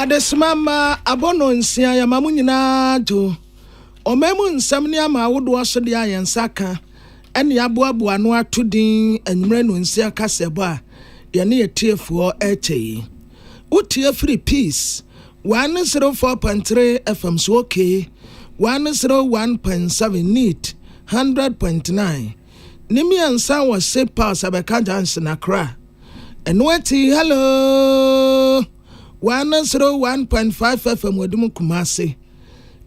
adesoma mma abɔnɔ nsia yɛma mo nyinaa to ɔma mu nsɛm ne ama awodoɔ so deɛ a yɛn nsa ka ɛne aboaboa ano ato din anwummerɛ no nsia kasɛbɔ a yɛne atiefoɔ ɛkyɛ yi wotie firi peace 104.3 fm so okay 101.7 neat 100.9 ne mmiɛnsa wɔ Safe Pass Abɛka Junction Accra. Ɛno akyi Hello! One zero one point five FM wɔde mu Kumasi.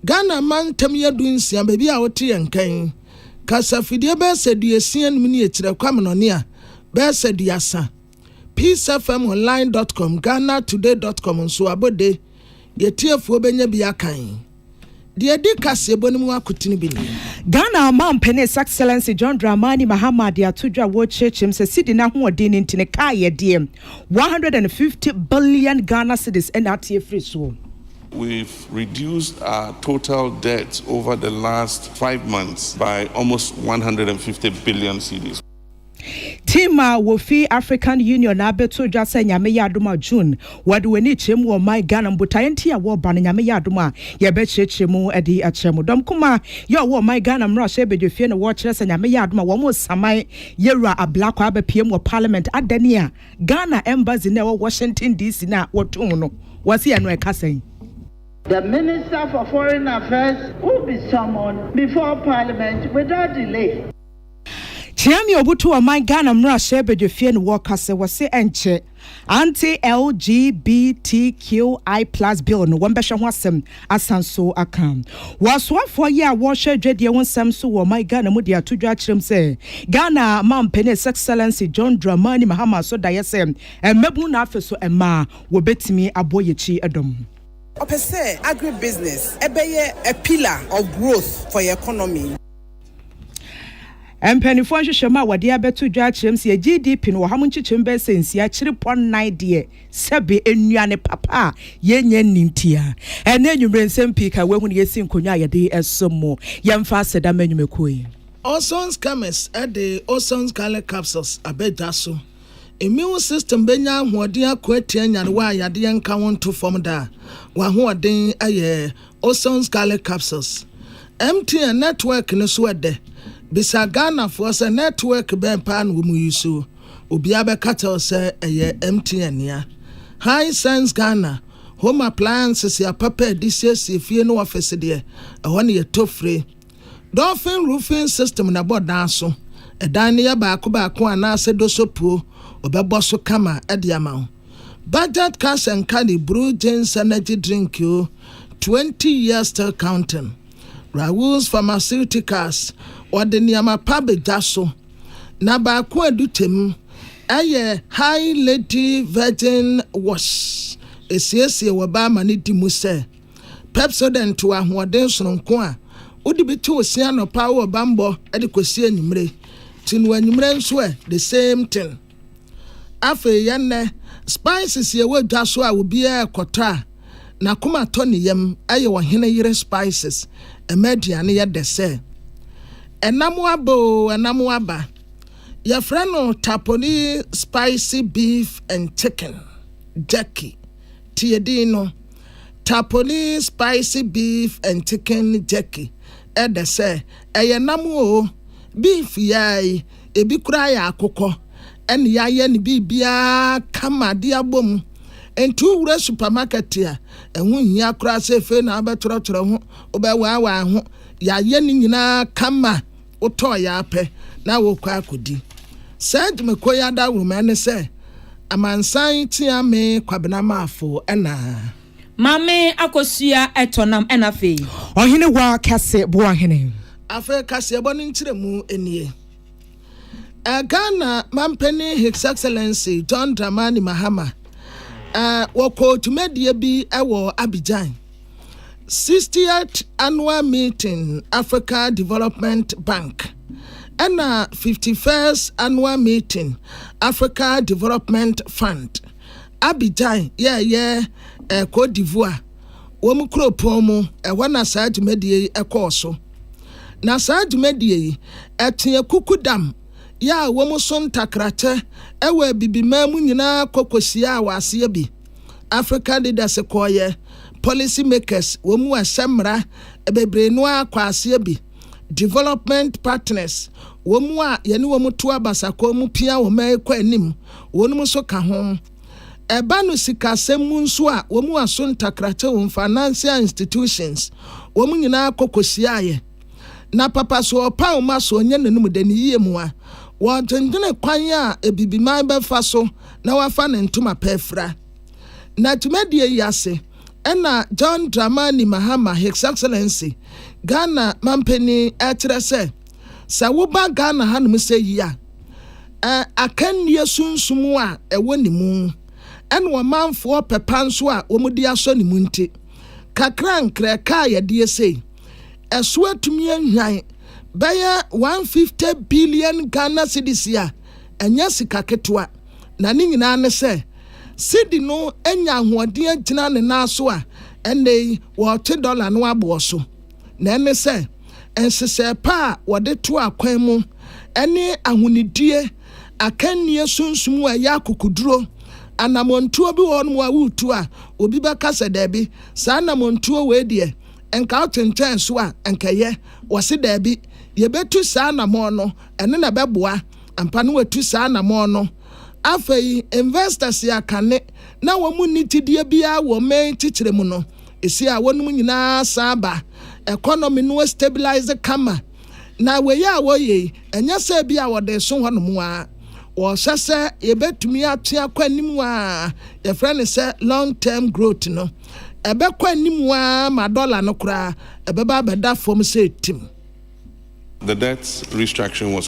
Ghana mantam yɛ du nsia baabi a wote yɛn kɛn. Kasafidie bɛyɛ sɛ duasia anim ne akyire kwamenɔne a bɛyɛ sɛ duasa. peacefmonline.com, ghanatoday.com nso abɔde deɛ tiefoɔ bɛnya bi akan. Deɛ ɛdi kaseɛbɔ no mu akotene bi nie. Ghana Ɔmampanin His Excellency John Dramani Mahama de ato dwa wɔ kyerɛkyerɛm sɛ cedi no ahoɔden no nti ne kaa yɛdeɛ 150 billion Ghana cedis na ate afiri soɔ. We've reduced our total debt over the last five months by almost 150 billion cedis. Team a wofi African Union abeto dwa sɛ Nyame yɛ adom a June wɔde w'ani kyerɛ mu wɔ ɔman Ghana mbotaeɛ nti a wɔba no Nyame yɛ adom a yɛbɛkyerɛkyerɛ mu de akyerɛ mo. Dɔm kumaa yɛ ɔwɔ ɔman Ghana mmrahyɛ badwafie na wɔkyerɛ sɛ Nyame yɛ adom a wɔn resaman Yɛwura Ablakwa abɛpiem wɔ Parliament adane a Ghana Embassy no a ɛwɔ Washington DC no a wɔtoo no wɔse ɛno ɛka sɛn? The Minister for Foreign Affairs will be summoned before Parliament without delay. Kyeame Obutu Ɔman Ghana Mmarahyɛ Badwafie no wɔkase wɔse ɛnkyɛ Anti LGBTQI plus bill no wɔbɛhwɛ ho asɛm asan so aka. Wɔasoafoɔ yi a wɔrehwɛ dwadie ho nsɛm so wɔ ɔman Ghana mu de ato dwa akyerɛm sɛ Ghana Mampanin His Excellency John Dramani Mahama so daeɛ sɛ mmabunu na afe so mmaa wɔbɛtumi aboa yɛkyi dɔm. Ɔpɛ sɛ agri-business ɛbɛyɛ a pillar of growth for yɛ economy. Mpaninfoɔ nhwehwɛmu a wɔde abɛto dwa akyerɛm sɛ GDP no wɔ ha mu nkyekyɛmu bɛyɛ sɛ nsia kyere pɔ nnan deɛ sɛbe nnuane papa a yɛnya nni ntia. Ɛnɛ anwumerɛ nsɛm pii ka wahu no yɛsi nkonwa a yɛde ɛso mo. Yɛmfa aseda ma nnwumakuo yi. Ozone Schemes de Ozone Scarlet Capsules aba dwa so. Immune system bɛnya ahoɔden ako atia nyarewa a yadeɛ nka ho nto fam da a w'ahoɔden yɛ Ozone Scarlet Capsules, MTN network no so ɛdɛ? Bisa Ghanafoɔ sɛ network bɛn paa na wɔn use? Obiara bɛka kyerɛ wo sɛ ɛyɛ MTN nea. Hisense Ghana, Home Appliances yɛ apapa a yɛde siesie fie ne office deɛ, ɛhɔ na yɛtɔ fire. Dolphin Roofing System na ɛbɔ dan so. Ɛdan no yɛ baako baako anaasɛ dosopuo, wɔbɛbɔ so kama de ama wo. Bajaj cash and carry brew gins energy drink o twenty years still counting Raoul's pharmaceuticals wɔde nneɛma pa ba gya so na baako a ɛdi kyɛm yɛ Hi Lady virgin wash ɛsiesie wɔ baa ma no di mu sɛ Pepsodent wɔ ahoɔden sononko a wode bi te wo se anɔpa wɔ bammɔ de kɔsi anwummere ti no anwummere nso ɛ the same thing. Afei yɛ nnɛ, spices yɛ wɔ dwa so a obiara kɔtɔ a n'akoma tɔ ne yam ɛyɛ ɔhene yere spices ɛma aduane yɛ dɛ sɛ ɛnam aba o ɛnam aba yɛfrɛ no taponi spicy beef and chicken jerky tie din no taponi spicy beef and chicken jerky ɛdɛ sɛ ɛyɛ nam o beef yɛai Ebi koraa yɛ akokɔ na yɛayɛ no biribiara kama de abɔ mu. Enti wowura supamakɛt a, ɛho nhia koraa sɛ afei na wobɛtwerɛtwerɛ ho, wobɛwaawaa ho. Yɛayɛ ne nyinaa kama. Wotɔɔ yɛ ara pɛ na worekɔ akɔdi. Serge Mekoy adawuruma ne sɛ, Amansan tea me Kwabena Marfo na. Maame akosua tɔ nam ɛna afei. Ɔhene wa kɛse boa hene. Afei kaseɛbɔ no nkyerɛmu nie. Ghana Mampanin His Excellency John Dramani Mahama wɔkɔɔ dwumadie bi wɔ Abidjan 60th Annual Meeting Africa Development Bank ɛna 51st Annual Meeting Africa Development Fund Abidjan yɛ ɛyɛ eh, Côte d'Ivoire wɔn kuropɔn mu, ɛhɔ na saa dwumadie yi ɛkɔɔ so. Na saa dwumadie yi ɛteɛ kukudam yɛ a wɔn so ntakrakyɛ ɛwɔ Abibiman mu nyinaa kɔ kɔhyiaa wɔ aseɛ bi. African leaders kɔɔyɛ, policy makers, wɔn mu a ɛhyɛ mmara bebree no ara kɔɔ aseɛ bi. Development Partners, wɔn a yɛne wɔn to abasakɔ mu pia wɔn ma ɛkɔ anim, wɔnom nso ka ho. Ɛba no sikasɛm mu nso a, wɔn a so ntakrakye wom, financial institutions, wɔn nyinaa kɔ kɔhyiaeɛ. Na papa so ɔpaw ma so ɔnyɛ n'anom dɛ, ne yie mu a, wɔdwendwene kwan a Abibiman bɛfa so na wafa ne ntoma pa afira. Na dwumadie yi ase. Ɛna John Dramani Mahama, His Excellency, Ghana Mampanin ɛkyerɛ sɛ, sɛ woba Ghana hanom sɛ yi a, ɛ, akannie sunsum a ɛwɔ ne mu, ɛna ɔmanfoɔ pɛ pa nso a wɔde asɔ ne mu nti, kakra nkrɛ kaa yɛdeɛ sei, ɛso atumi ahwan bɛyɛ 150 billion Ghana cedis a ɛnyɛ sika ketewa. na ne nyinaa ne sɛ cedi no anya ahoɔden agyina ne nan so a ɛnnɛ yi wɔrete dɔla no aboɔ so, na ɛne sɛ nhyehyɛe pa a wɔde to akwan mu ne ahonidie akannie sunsum a ɛyɛ akokoduro. Anammɔntuo bi wɔ hɔnom a woretu a obi bɛka sɛ daabi, saa anammɔntuo wei deɛ nka wotwentwɛn so a nka ɛyɛ. Wɔse daabi, yɛbɛtu saa anammɔn no, ɛno na ɛbɛboa. Ampa na watu saa anamɔn no. Afei, investors a kane na wɔn nni gyidie biara wɔ main kyekyerɛ mu no, ɛsi a wɔnom nyinaa san aba. Economy no astabilise kama. Na wei a wɔyɛ yi, ɛnyɛ sɛ bi a wɔde reso hɔnom ara. Wɔrehwɛ sɛ yɛbɛtumi atwe akɔ anim a yɛfrɛ no sɛ long term growth no. Ɛbɛkɔ anim ara ma dollar no koraa ɛbɛba abɛda fam sɛ tim. The debt restructuring was.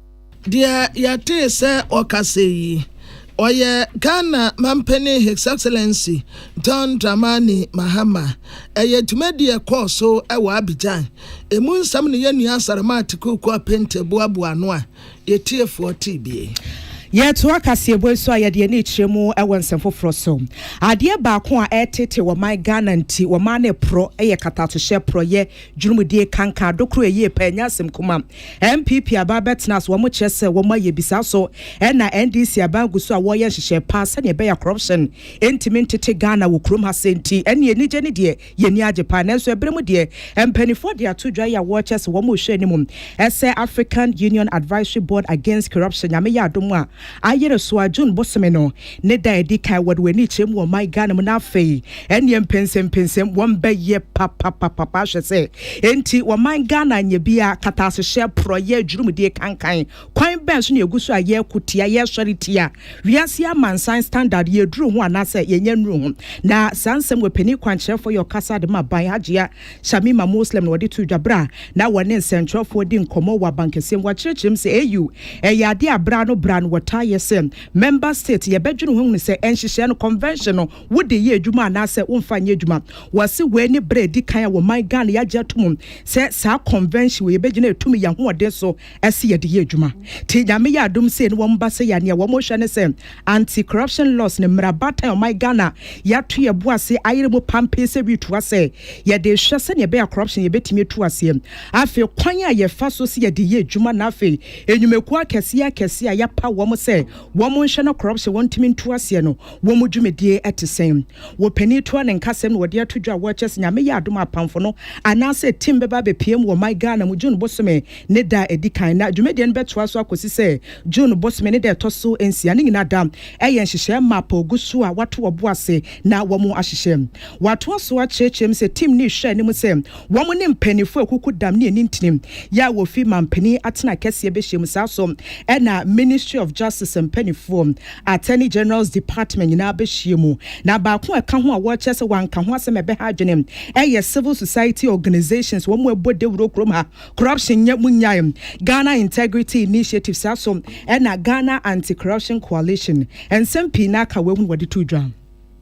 Deɛ yɛtee sɛ ɔkasɛɛ yi, ɔyɛ Ghana Mampanin His Excellency John Dramani Mahama. Ɛyɛ dwumadie a ɛkɔɔ so wɔ Abidjan. Ɛmu nsɛm ne yɛn nua Asarma Atiku Kua Pente boaboa ano a yɛtiefoɔ tee bi. Yɛtoa kaseɛbɔ yi so a yɛde yɛn ani rekyerɛ mu wɔ nsɛm foforɔ so. Adeɛ baako a ɛreteetee wɔman Ghana nti wɔmaa no porɔ yɛ katatohyɛ, porɔyɛ, Dwurumadie kanka ado koro ɛyie paa ɛnyɛ asɛm kuma. NPP aban bɛtena so wɔn kyerɛ sɛ wɔn ayɛ bi saa so ɛna NDC aban gu so a wɔyɛ nhyehyɛɛ paa sɛdeɛ ɛbɛya corruption ntumi ntete Ghana wɔ kurom ha sɛ nti ɛneɛ anigye ne deɛ yɛn ani agye paa nanso ɛberɛ mu deɛ mpaninfoɔ de ato dwa yi a wɔkyɛ sɛ wɔn rehwɛ anim ɛsɛ African Union Advisory Board Against Corruption Nyame yɛ adom a ayere so a June bosome no Ne da a ɛdi kan wɔde wɔn ani kyerɛ mu wɔ ɔman Ghana mu na afei ɛneɛ mpɛnsɛmpɛnsɛm wɔn bɛyɛ papapapapa ahwɛ sɛ enti wɔman Ghana nyɛ bia katasehyɛ porɔ yɛ adwurumudie kankan kwan bɛn so na yɛgu so a yɛko tia yɛsɔre tia wiase amansan standard yɛduru ho anaasɛ yɛnyɛ nnuru ho na saa nsɛm wɔ panin kwankyerɛfoɔ yɛ ɔkasa de ma ban Hajia Shamima Muslim na wɔde to dwa berɛ a na wɔne nsɛntwerɛfoɔ di nkɔmmɔ wɔ abankɛseɛ mu wɔkyerɛkyerɛ mu sɛ AU ɛyɛ adeɛ a berɛ ano berɛ ano wɔtaa yɛ sɛ Member State yɛbɛdwene ho ahunu sɛ nhyehyɛɛ no, Convention, no wode yɛ adwuma anaasɛ womfa nyɛ adwuma. Wɔse wei ne berɛ a ɛdi kan a wɔ man Ghana yɛagye atom sɛ saa Convention wei yɛbɛgyina ɛtumi yɛ ahoɔden so se yɛde yɛ adwuma. Nti Nyame yɛ adom sei ne wɔn ba sei a nea wɔn rehwɛ ne sɛ Anti Corruption Laws no mmara baatan a ɔman Ghana yɛato yɛn bo ase ayere mu pampee sɛ retu asɛ yɛde rehwɛ sɛnea ɛbɛyɛ a corruption yɛbɛtumi atu aseɛ. Afei kwan a yɛfa so se yɛde yɛ adwuma na afei Nnwumakuo akɛseɛ akɛseɛ a yɛapaw wɔn sɛ wɔnhwɛ na corruption wɔntumi nto aseɛ no, wɔn dwumadie te sɛn? Wɔ panin toa ne nkasɛm na wɔde ato dwa a wɔrekyerɛ sɛ Nyame yɛ adom a apamfo no anaasɛ team bɛba abɛpue mu wɔ ɔman Ghana mu June bosome ne da a ɛdi kan na dwumadie no bɛtoa so akɔsi sɛ June bosome ne da a ɛtɔ so nsia no nyinaa da ɛyɛ nhyehyɛɛ map a ɔgu so a wɔato wɔbo ase na wɔahyehyɛ. Wɔatoa so akyerɛkyerɛ mu sɛ team no rehwɛ anim sɛ Wɔn ne mpanyinfoɔ akuku dam ne anintinim yɛ a wɔfi manpanin atena akɛseɛ bɛhyiam. Saa so na Ministry of Justice mpanyinfoɔ, Attorney General's Department nyinaa bɛhyia mu. Na baako a ɛka ho a wɔkyerɛ sɛ wɔanka ho asɛm a ɛbɛha adwene ɛyɛ Civil Society Organisations wɔn ɛbɔ dawuro kurom ha corruption nyɛ mu nyae Ghana Integrity Initiative saa so na Ghana Anti-Corruption Coalition. Nsɛm pii na aka wei ho na wɔde too dwa.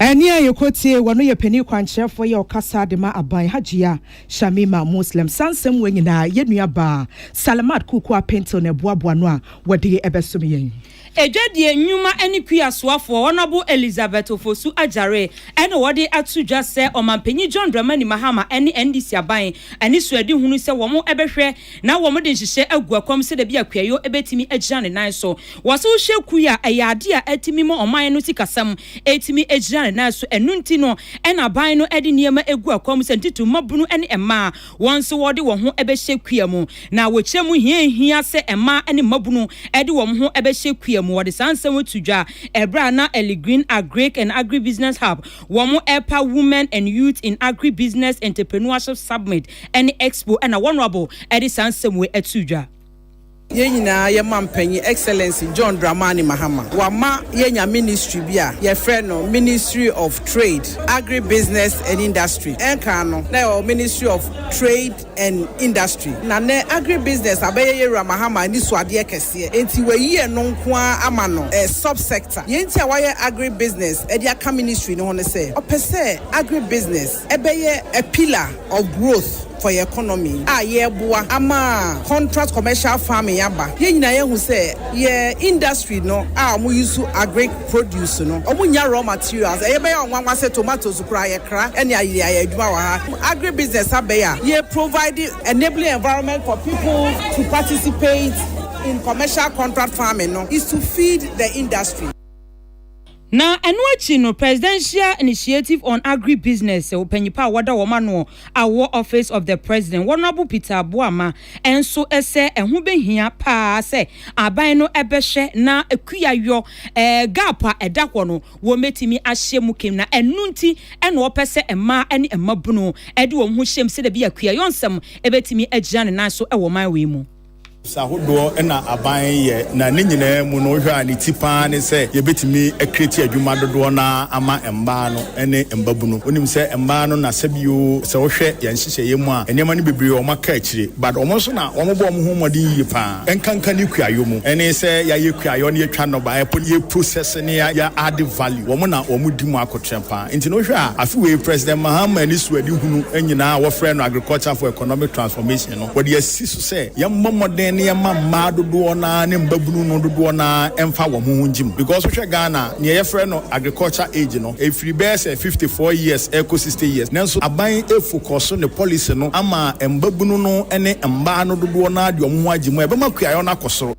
Ɛnne a yɛkɔ tie wɔ no yɛ panin kwankyerɛfoɔ yi a ɔkasa de ma aban, Hajia Shamima Muslim. Saa nsɛm wei nyinaa, yɛn nua baa Salimat Kuku Apentew na ɛboaboa ano a wɔde ɛbɛsom yɛn. Adwadie nnwuma ne kua soafoɔ Honourable Elizabeth Ofosu Agyare na wɔde ato dwa sɛ Ɔmanpanyin John Dramani Mahama ne NDC aban ani suadihunu sɛ wɔn bɛhwɛ na wɔde nhyehyɛɛ agu kɔm sɛdeɛ ɛbɛyɛ a Kweayo bɛtumi agyina ne nan so Wɔse wohyɛ kui a, ɛyɛ adeɛ a atumi ma ɔman no sikasɛm atumi agyina ne nan so. Ɛno nti no na aban no de nneɛma agu akwan mu sɛ ntitiriw mmabunu ne mmaa wɔn nso wɔde wɔn ho bɛhyɛ kua mu. Na wɔkyerɛ mu hia a ehia sɛ mmaa ne mmabunu de wɔn ho bɛhyɛ kua mu. Wɔde saa nsɛm yi to dwa ɛberɛ a na Ellie Green Agric and Agribusiness Hub wɔn ɛpa Women and Youth in Agribusiness Entreprenuership Submit ne Expo na Honourable de saa nsɛm wei too dwa. Yɛn nyinaa yɛ ma mpanyin Excellency John Dramani Mahama. Wama yɛanya ministry bi a yɛfrɛ no Ministry of Trade, Agribusiness and Industry. Ɛnkan no na yɛwɔ Ministry of Trade and Industry na nnɛ Agribusiness abɛyɛ yɛn Wura Mahama anisoadeɛ kɛseɛ. Enti wayi ɛno nko ara ama no sub-sector. Deɛ nti a wayɛ Agribusiness de aka ministry no ho ne sɛ ɔpɛ sɛ Agribusiness, Ɛbɛyɛ a pillar of growth for yɛn economy a yɛreboa ama contract commercial farming aba. Yɛn nyinaa yɛahu sɛ yɛn industry no a wɔn use agric produce no, wɔn nnya raw materials. Ɛyɛ bɛyɛ a nwanwa sɛ tomatoes koraa yɛkra ne ayere ayɛ adwuma wɔ ha. Agri business abɛyɛ a yɛ provide enabling environment for people to participate in commercial contract farming no is to feed the industry. Na ɛno akyi no, Presidential Initiative on Agribusiness ɔpanyimpa a wɔda wɔn ano wɔ Office of the President, Honourable Peter Boamah nso sɛ ɛho bɛhia paa sɛ aban no bɛhwɛ na kuayɔ gap a ɛda hɔ no wɔbɛtumi ahyɛ mu kem na ɛno nti na wɔpɛ sɛ mmaa ne mmabunu de wɔn ho hyɛ mu sɛdeɛ ɛbɛyɛ a kuayɔ nsɛm bɛtumi agyina ne nan so wɔ ɔman wei mu. ahodoɔ na aban yɛ, na ne nyinaa mu no wohwɛ a ne ti pa ara ne sɛ yɛbɛtumi akreati adwuma dodoɔ no ara ama mmaa no ne mmabunu. Wonim sɛ mmaa no na sɛbi oo, sɛ wohwɛ yɛn nhyehyɛeɛ mu a nneɛma no bebree wɔn aka akyire but wɔn nso na wɔn bɔ wɔn ho mmɔden yie pa ara ɛnkanka ne kuayɔ mu. Ɛne sɛ yɛayɛ kuayɔ na yɛtwa nnɔbaeɛ mpo no yɛ process ne yɛ yɛ add value. Wɔn na wɔn di mu akotrɛm pa ara. Nti no wohwɛ a afe wei President Mahama ani so adehunu nyinaa a wɔfrɛ no agriculture for economic transformation, no, wɔde asi so sɛ yɛmmɔ mmɔden na yɛmma mmaa dodoɔ no ara ne mmabunu no dodoɔ no ara mfa wɔn ho ngye mu because wohwɛ Ghana a, nea yɛfrɛ no agriculture age no, ɛfiri bɛyɛ sɛ fifty four years ɛrekɔ sixty years. Nanso aban focɔso ne policy no ama mmabunu no ne mmaa no dodoɔ no ara de wɔn ho agye mu a ɛbɛma kuayɔ no akɔ soro.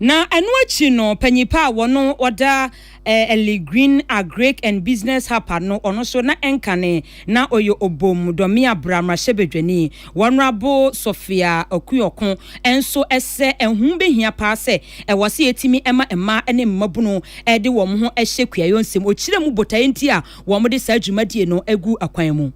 Na ɛno akyi no panyin pa a wɔno ɔda eh, Ellie Green Agric and Business Hapa no ɔno so na ɛnkane na ɔyɛ obom dɔme abra mmarahyɛbadwani Wɔnrabo Sofia Okuoko ɛnso ɛsɛ ɛho behia paa sɛ ɛwɔ sɛ yɛtumi ɛma mmaa ɛne mmabunu ɛde wɔn ho ɛhyɛ kuayɔ nsɛm ɔkyirɛ mu botaeɛ nti a wɔn de saa dwumadie no ɛgu akwan mu.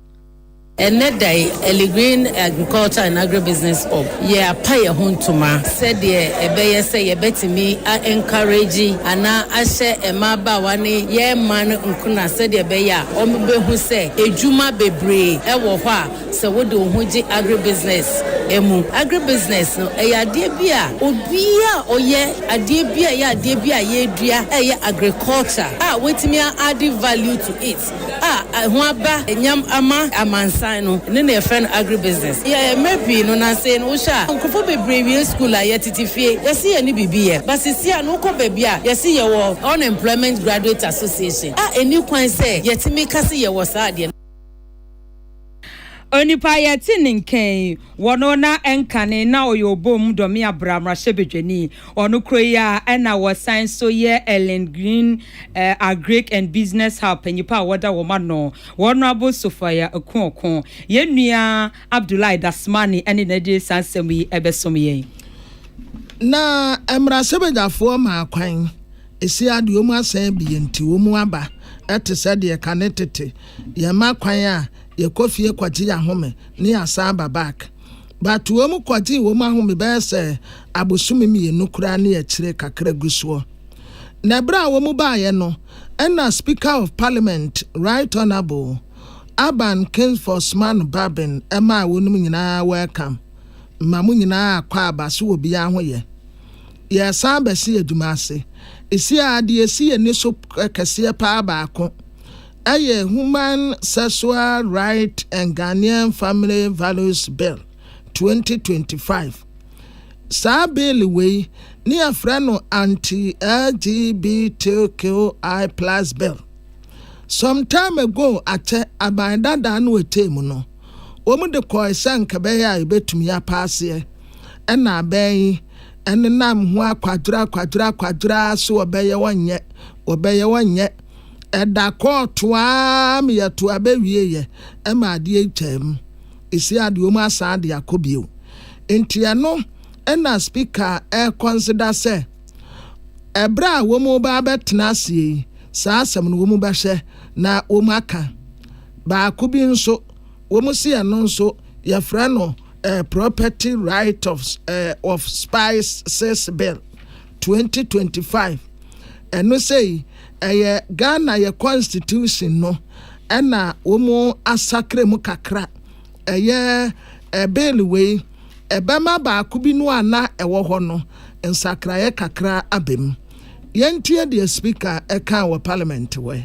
Ɛnnɛ da yi, Early Green Agriculture and Agribusiness Corp. Yɛapa yɛn ho ntoma sɛdeɛ ɛbɛyɛ sɛ yɛbɛtumi a encourage anaa ahyɛ mmabaawa ne yɛn mmaa no nkuna sɛdeɛ ɛbɛyɛ a wɔbɛhu sɛ adwuma bebree wɔ hɔ a sɛ wode wo ho gye agribusiness mu. Agribusiness no, ɛyɛ adeɛ bi a obiara a ɔyɛ adeɛ bi a ɛyɛ adeɛ bi a yɛdua a ɛyɛ agriculture a watumi a add value to it. a ɛho aba nyam ama amansan no ne nea yɛfrɛ no agribusiness. Yɛ mmerɛ pii no nansei no wohwɛ a nkurɔfoɔ bebree wie school a yɛtete fie yɛse yɛne biribi yɛ but sesie a no wokɔ baabi a yɛse yɛwɔ Unemployment Graduate Association a ɛni kwan sɛ yɛtumi ka se yɛwɔ saa adeɛ no. Onipa a yɛte ne nka yi, wɔ no na ɛnkane na ɔyɛ ɔbɔm dɔme abra mmarahyɛbadwani. Ɔno koro yi a na wɔsan nso yɛ Ellen Green eh, Agric and Business Hub panyipa a wɔda wɔn ano, Honourable Sophia Akuoko. Yɛn nua Abdullahi Dasmani ne na de saa nsɛm yi bɛsom yɛn. Na mmarahyɛbadwafoɔ maa kwan, ɛsi adeɛ wɔn asan abie nti wɔn aba te sɛ deɛ kane tete Yɛma kwan a, yɛkɔ fie kɔgye yɛn ahome na yɛasan aba back. But wɔn kɔgyee wɔn ahome bɛyɛ sɛ abosome mmienu koraa ne akyire kakra gu soɔ. Na berɛ a wɔn baeɛ no, ɛna Speaker of Parliament Right Honourable Aban Kingsford Smanu Babin maa wɔnom nyinaa welcome ma mo nyinaa akɔ aba so wɔ biara ho yɛ. Yɛresan bɛsi adwuma ase. Ɛsi ara deɛ ɛsi yɛn ani so kɛseɛ paa baako yɛ Human Sexual Right and Ghanaian Family Values Bill, 2025. Saa bill wei ne yɛfrɛ no Anti-LGBTQI Plus Bill. Some time ago akyɛ aban dadaa no ɛtee mu no, wɔn de kɔɔe sɛ nka ɛbɛyɛ a yɛbɛtumi apaaseɛ. Ɛna abɛn yi, ɛnenam ho akwadwerɛ akwadwerɛ akwadwerɛ ara so wɔbɛyɛ wɔnyɛ, wɔbɛyɛ wɔnyɛ. Ɛda kɔɔ toaa me yɛ toaa bɛ wie yɛ ɛma adeɛ yi kyɛɛ mu ɛsi adeɛ ɔmu asan adeɛ akɔ bio nti ɛno ɛna speaker ɛɛkɔnseda sɛ ɛberɛ a ɔmu baa bɛ tena aseɛ yi saa asɛm no ɔmu bɛhwɛ na ɔmu aka baako bi nso ɔmu se ɛno nso yɛ frɛ no ɛɛ property right of ɛɛ of spices bill twenty twenty five ɛno sei ɛyɛ Ghana yɛ constitution no ɛna wɔn asakra mu kakra ɛyɛ ɛbele wei ɛbɛma baako bi no a na ɛwɔ hɔ no nsakraeɛ kakra abɛm yɛntie deɛ speaker ɛka wɔ parliament wɔ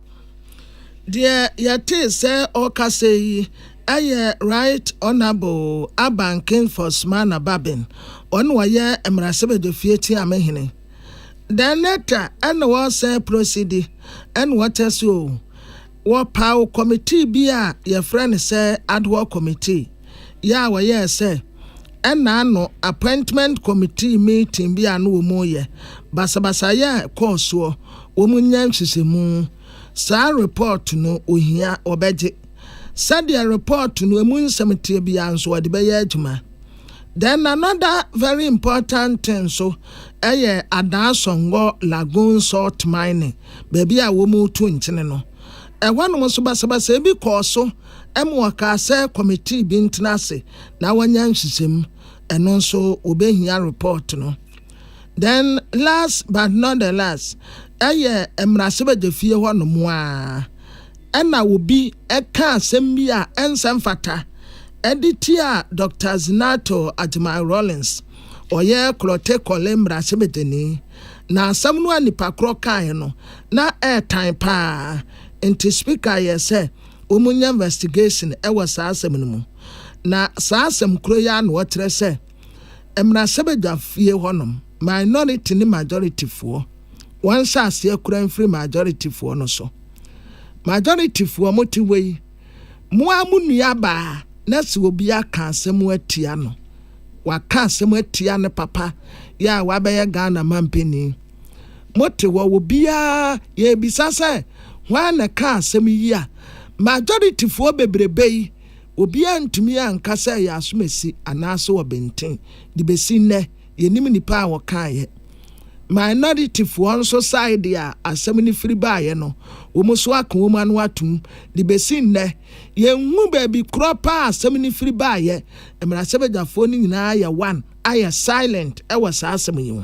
Deɛ yɛtee sɛ ɔreka sei yi yɛ Right Honourable Aban King Fosmana Babin, ɔno na ɔyɛ Mmarahyɛbadwafie Tiamehene. The Netta ɛna ɔsɛ prosidi ɛna ɔtɛ so o. Wɔpaw committee bi a yɛfrɛ no sɛ Ad Hoc Committee. yɛ a wɔyɛɛ sɛ ɛna ano appointment committee meeting bi a na wɔreyɛ. Basabasayɛ a ɛkɔɔ soɔ, wɔnyɛ nhyehyɛmu. Saa report no ɔhia, wɔbɛgye. Sɛdeɛ report no ɛmu nsɛm teɛ biara nso wɔde bɛyɛ adwuma. Then another very important thing nso ɛyɛ Adaa Sɔngɔ Lagoon Salt Mining, baabi a wɔretu nkyene no. Ɛhɔnom nso basabasayɛ bi kɔɔ so. Ɛma ɔkaa sɛ kɔmitee bi ntena ase na wɔanya nhyehyɛmu, ɛno nso wɔbɛhia repɔɔt no. Then last but not the last, ɛyɛ mmarahyɛbadwafie hɔ nom ara ɛna obi ɛka asɛm bi a ɛnsɛ mfata ɛde tia Doctor Zinato Agyemang Rawlings, ɔyɛ Klottey Korle mmarahyɛbadwani. Na asɛm no a nipa korɔ kaeɛ no na ɛɛtan pa ara, nti Speaker yɛɛ sɛ Wɔnya investigation wɔ saa asɛm no mu. Na saa asɛm koro yi ara na wɔkyerɛ sɛ mmarahyɛbadwafie hɔnom minority ne majority foɔ wɔnhyɛ aseɛ kura mfiri majority foɔ no so. Majority foɔ mo te hɔ yi, mo ara mo nua baa na sɛ obi aka asɛm atia no, waka asɛm atia ne papa yɛ a wabɛyɛ Ghana mampanin. Mote hɔ wɔ biaa yɛrebisa sɛ hwan na ɛkaa asɛm yi a majority foɔ bebrebe yi obiaa ntumi anka sɛ ɛyɛ asomasi anaase ɔbenten de bɛsi nnɛ yɛnim nipa a ɔkaeɛ minority foɔ nso side a asɛm no firi baeɛ no wɔn nso aka wɔn ano atom de bɛsi nnɛ yɛnhu baabi korɔ paa a asɛm no firi baeɛ mmarahyɛbadwafoɔ no nyinaa yɛ one ayɛ silent ɛwɔ saa asɛm yi ho.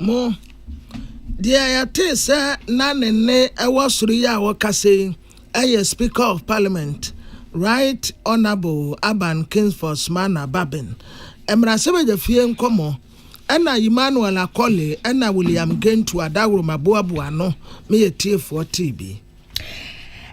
Mo, deɛ yɛtee sɛ na ne nne wɔ soro yi a ɔkasa yi yɛ Speaker of Parliament, Right Honourable Aban Kingsford Smana Babin, mmarahyɛbadwafie nkɔmmɔ ɛna Emmanuel Akɔle ɛna William Gentu Adaworo Maboaboa ano me atiefoɔ tee bi.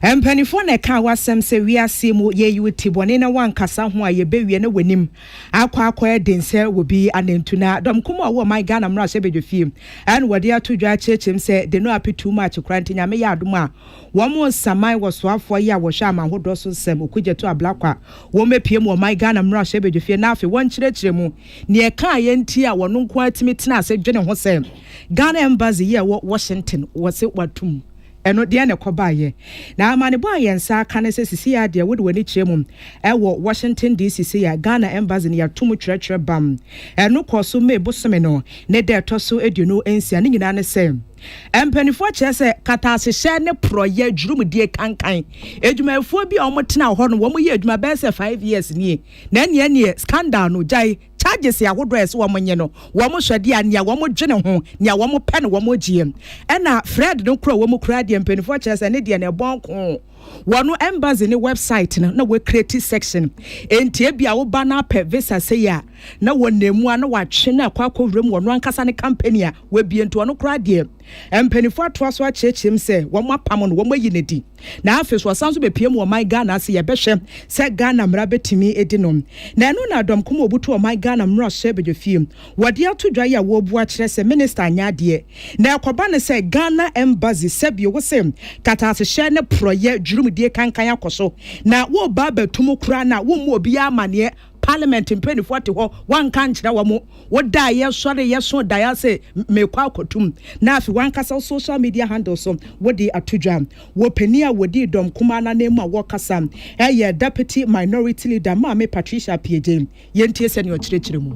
Mpanimfoɔ na ɛkaa w'asɛm sɛ wiaseɛ mu yei wo ti bɔne na woankasa ho a yɛbɛwie na w'anim akɔ akɔyɛ den sɛ obi anantu na dɔm kumaa ɔwɔ ɔman Ghana mmarahyɛbadwafie ɛna wɔde ato dwa akyerɛkyerɛm sɛ de no ape too much koraa nti Nyame yɛ adom a wɔn nsaman wɔ soafoɔ yi a wɔhwɛ aman hodoɔ so nsɛm Okudzeto Ablakwa wɔn apue mu wɔ ɔman Ghana mmarahyɛbadwafie na afei wɔnkyerɛkyerɛ mu nea ɛkaeɛ nti a wɔn nko ara tumi tena ase dwene ho sɛ Ghana Embassy yi a ɛwɔ Washington wɔse wɔato mu Ɛno, deɛn na ɛkɔbaeɛ? Na amanebɔ a yɛn nsa aka ne sɛ sisei ara deɛ, wode w'ani kyerɛ mu wɔ Washington DC sei a, Ghana Embassy no yɛato mu twerɛtwerɛ bam. Ɛno kɔɔ so May bosome no ne da a ɛtɔ so aduonu nsia. Ne nyinaa ne sɛ, mpaninfoɔ kyerɛ sɛ kataasehyɛ ne porɔeɛ dwurumdie kankan adwumayɛfoɔ bi a wɔtena hɔ no, wɔyɛ adwuma bɛyɛ sɛ five years nie, na ɛneɛ neɛ scandal no gyae. charges ahodoɔ a ɛsɛ wɔn nye no, wɔn hwɛ deɛ a nea wɔn dwene ho, nea wɔn pɛ na wɔn gyeɛ. Ɛna Fred no kura wɔn koraa deɛ mpaninfoɔ kyerɛ sɛ ne deɛ no ɛbɔn koo. Wɔn embassy ne website no na wɔ create section, enti ebia wo ba no apɛ visa sei a, na wɔn na emu a na watwe no akɔ akɔ wura mu wɔn ankasa ne company a wabie, nti wɔn koraa deɛ. Mpanyinfoɔ atoa so akyerɛkyerɛ mu sɛ wɔn apam no wɔn ayi no adi na afei so ɔsan so bɛpie mu ɔman Ghana ase yɛbɛhwɛ sɛ Ghana mmara bɛtumi adi no na ɛno na dɔm kɔm ɔbutu ɔman Ghana mmarahyɛ badwafie wɔde ato dwa yi a wɔrebu akyerɛ sɛ minister anyɛ adeɛ na ɛkɔba no sɛ Ghana embassy sɛbio wo se katasehyɛ ne porɔyɛ dwurumdie kankan akɔ so na wɔreba abɛto mu koraa na wɔmmu obiara amaneɛ Parliament mpaninfoɔ te hɔ wanka nkyerɛ wɔn wo da a yɛsɔre yɛso daeɛ ase mekɔ akɔtum na afi wankasa wo social media handle so wode ato dwa wɔ panin a wɔdii dɔm kumaa no anan mu a wɔkasa ɛyɛ Deputy Minority Leader Maame Patricia Appiagyei yɛntie sɛdeɛ ɔkyerɛkyerɛ mu.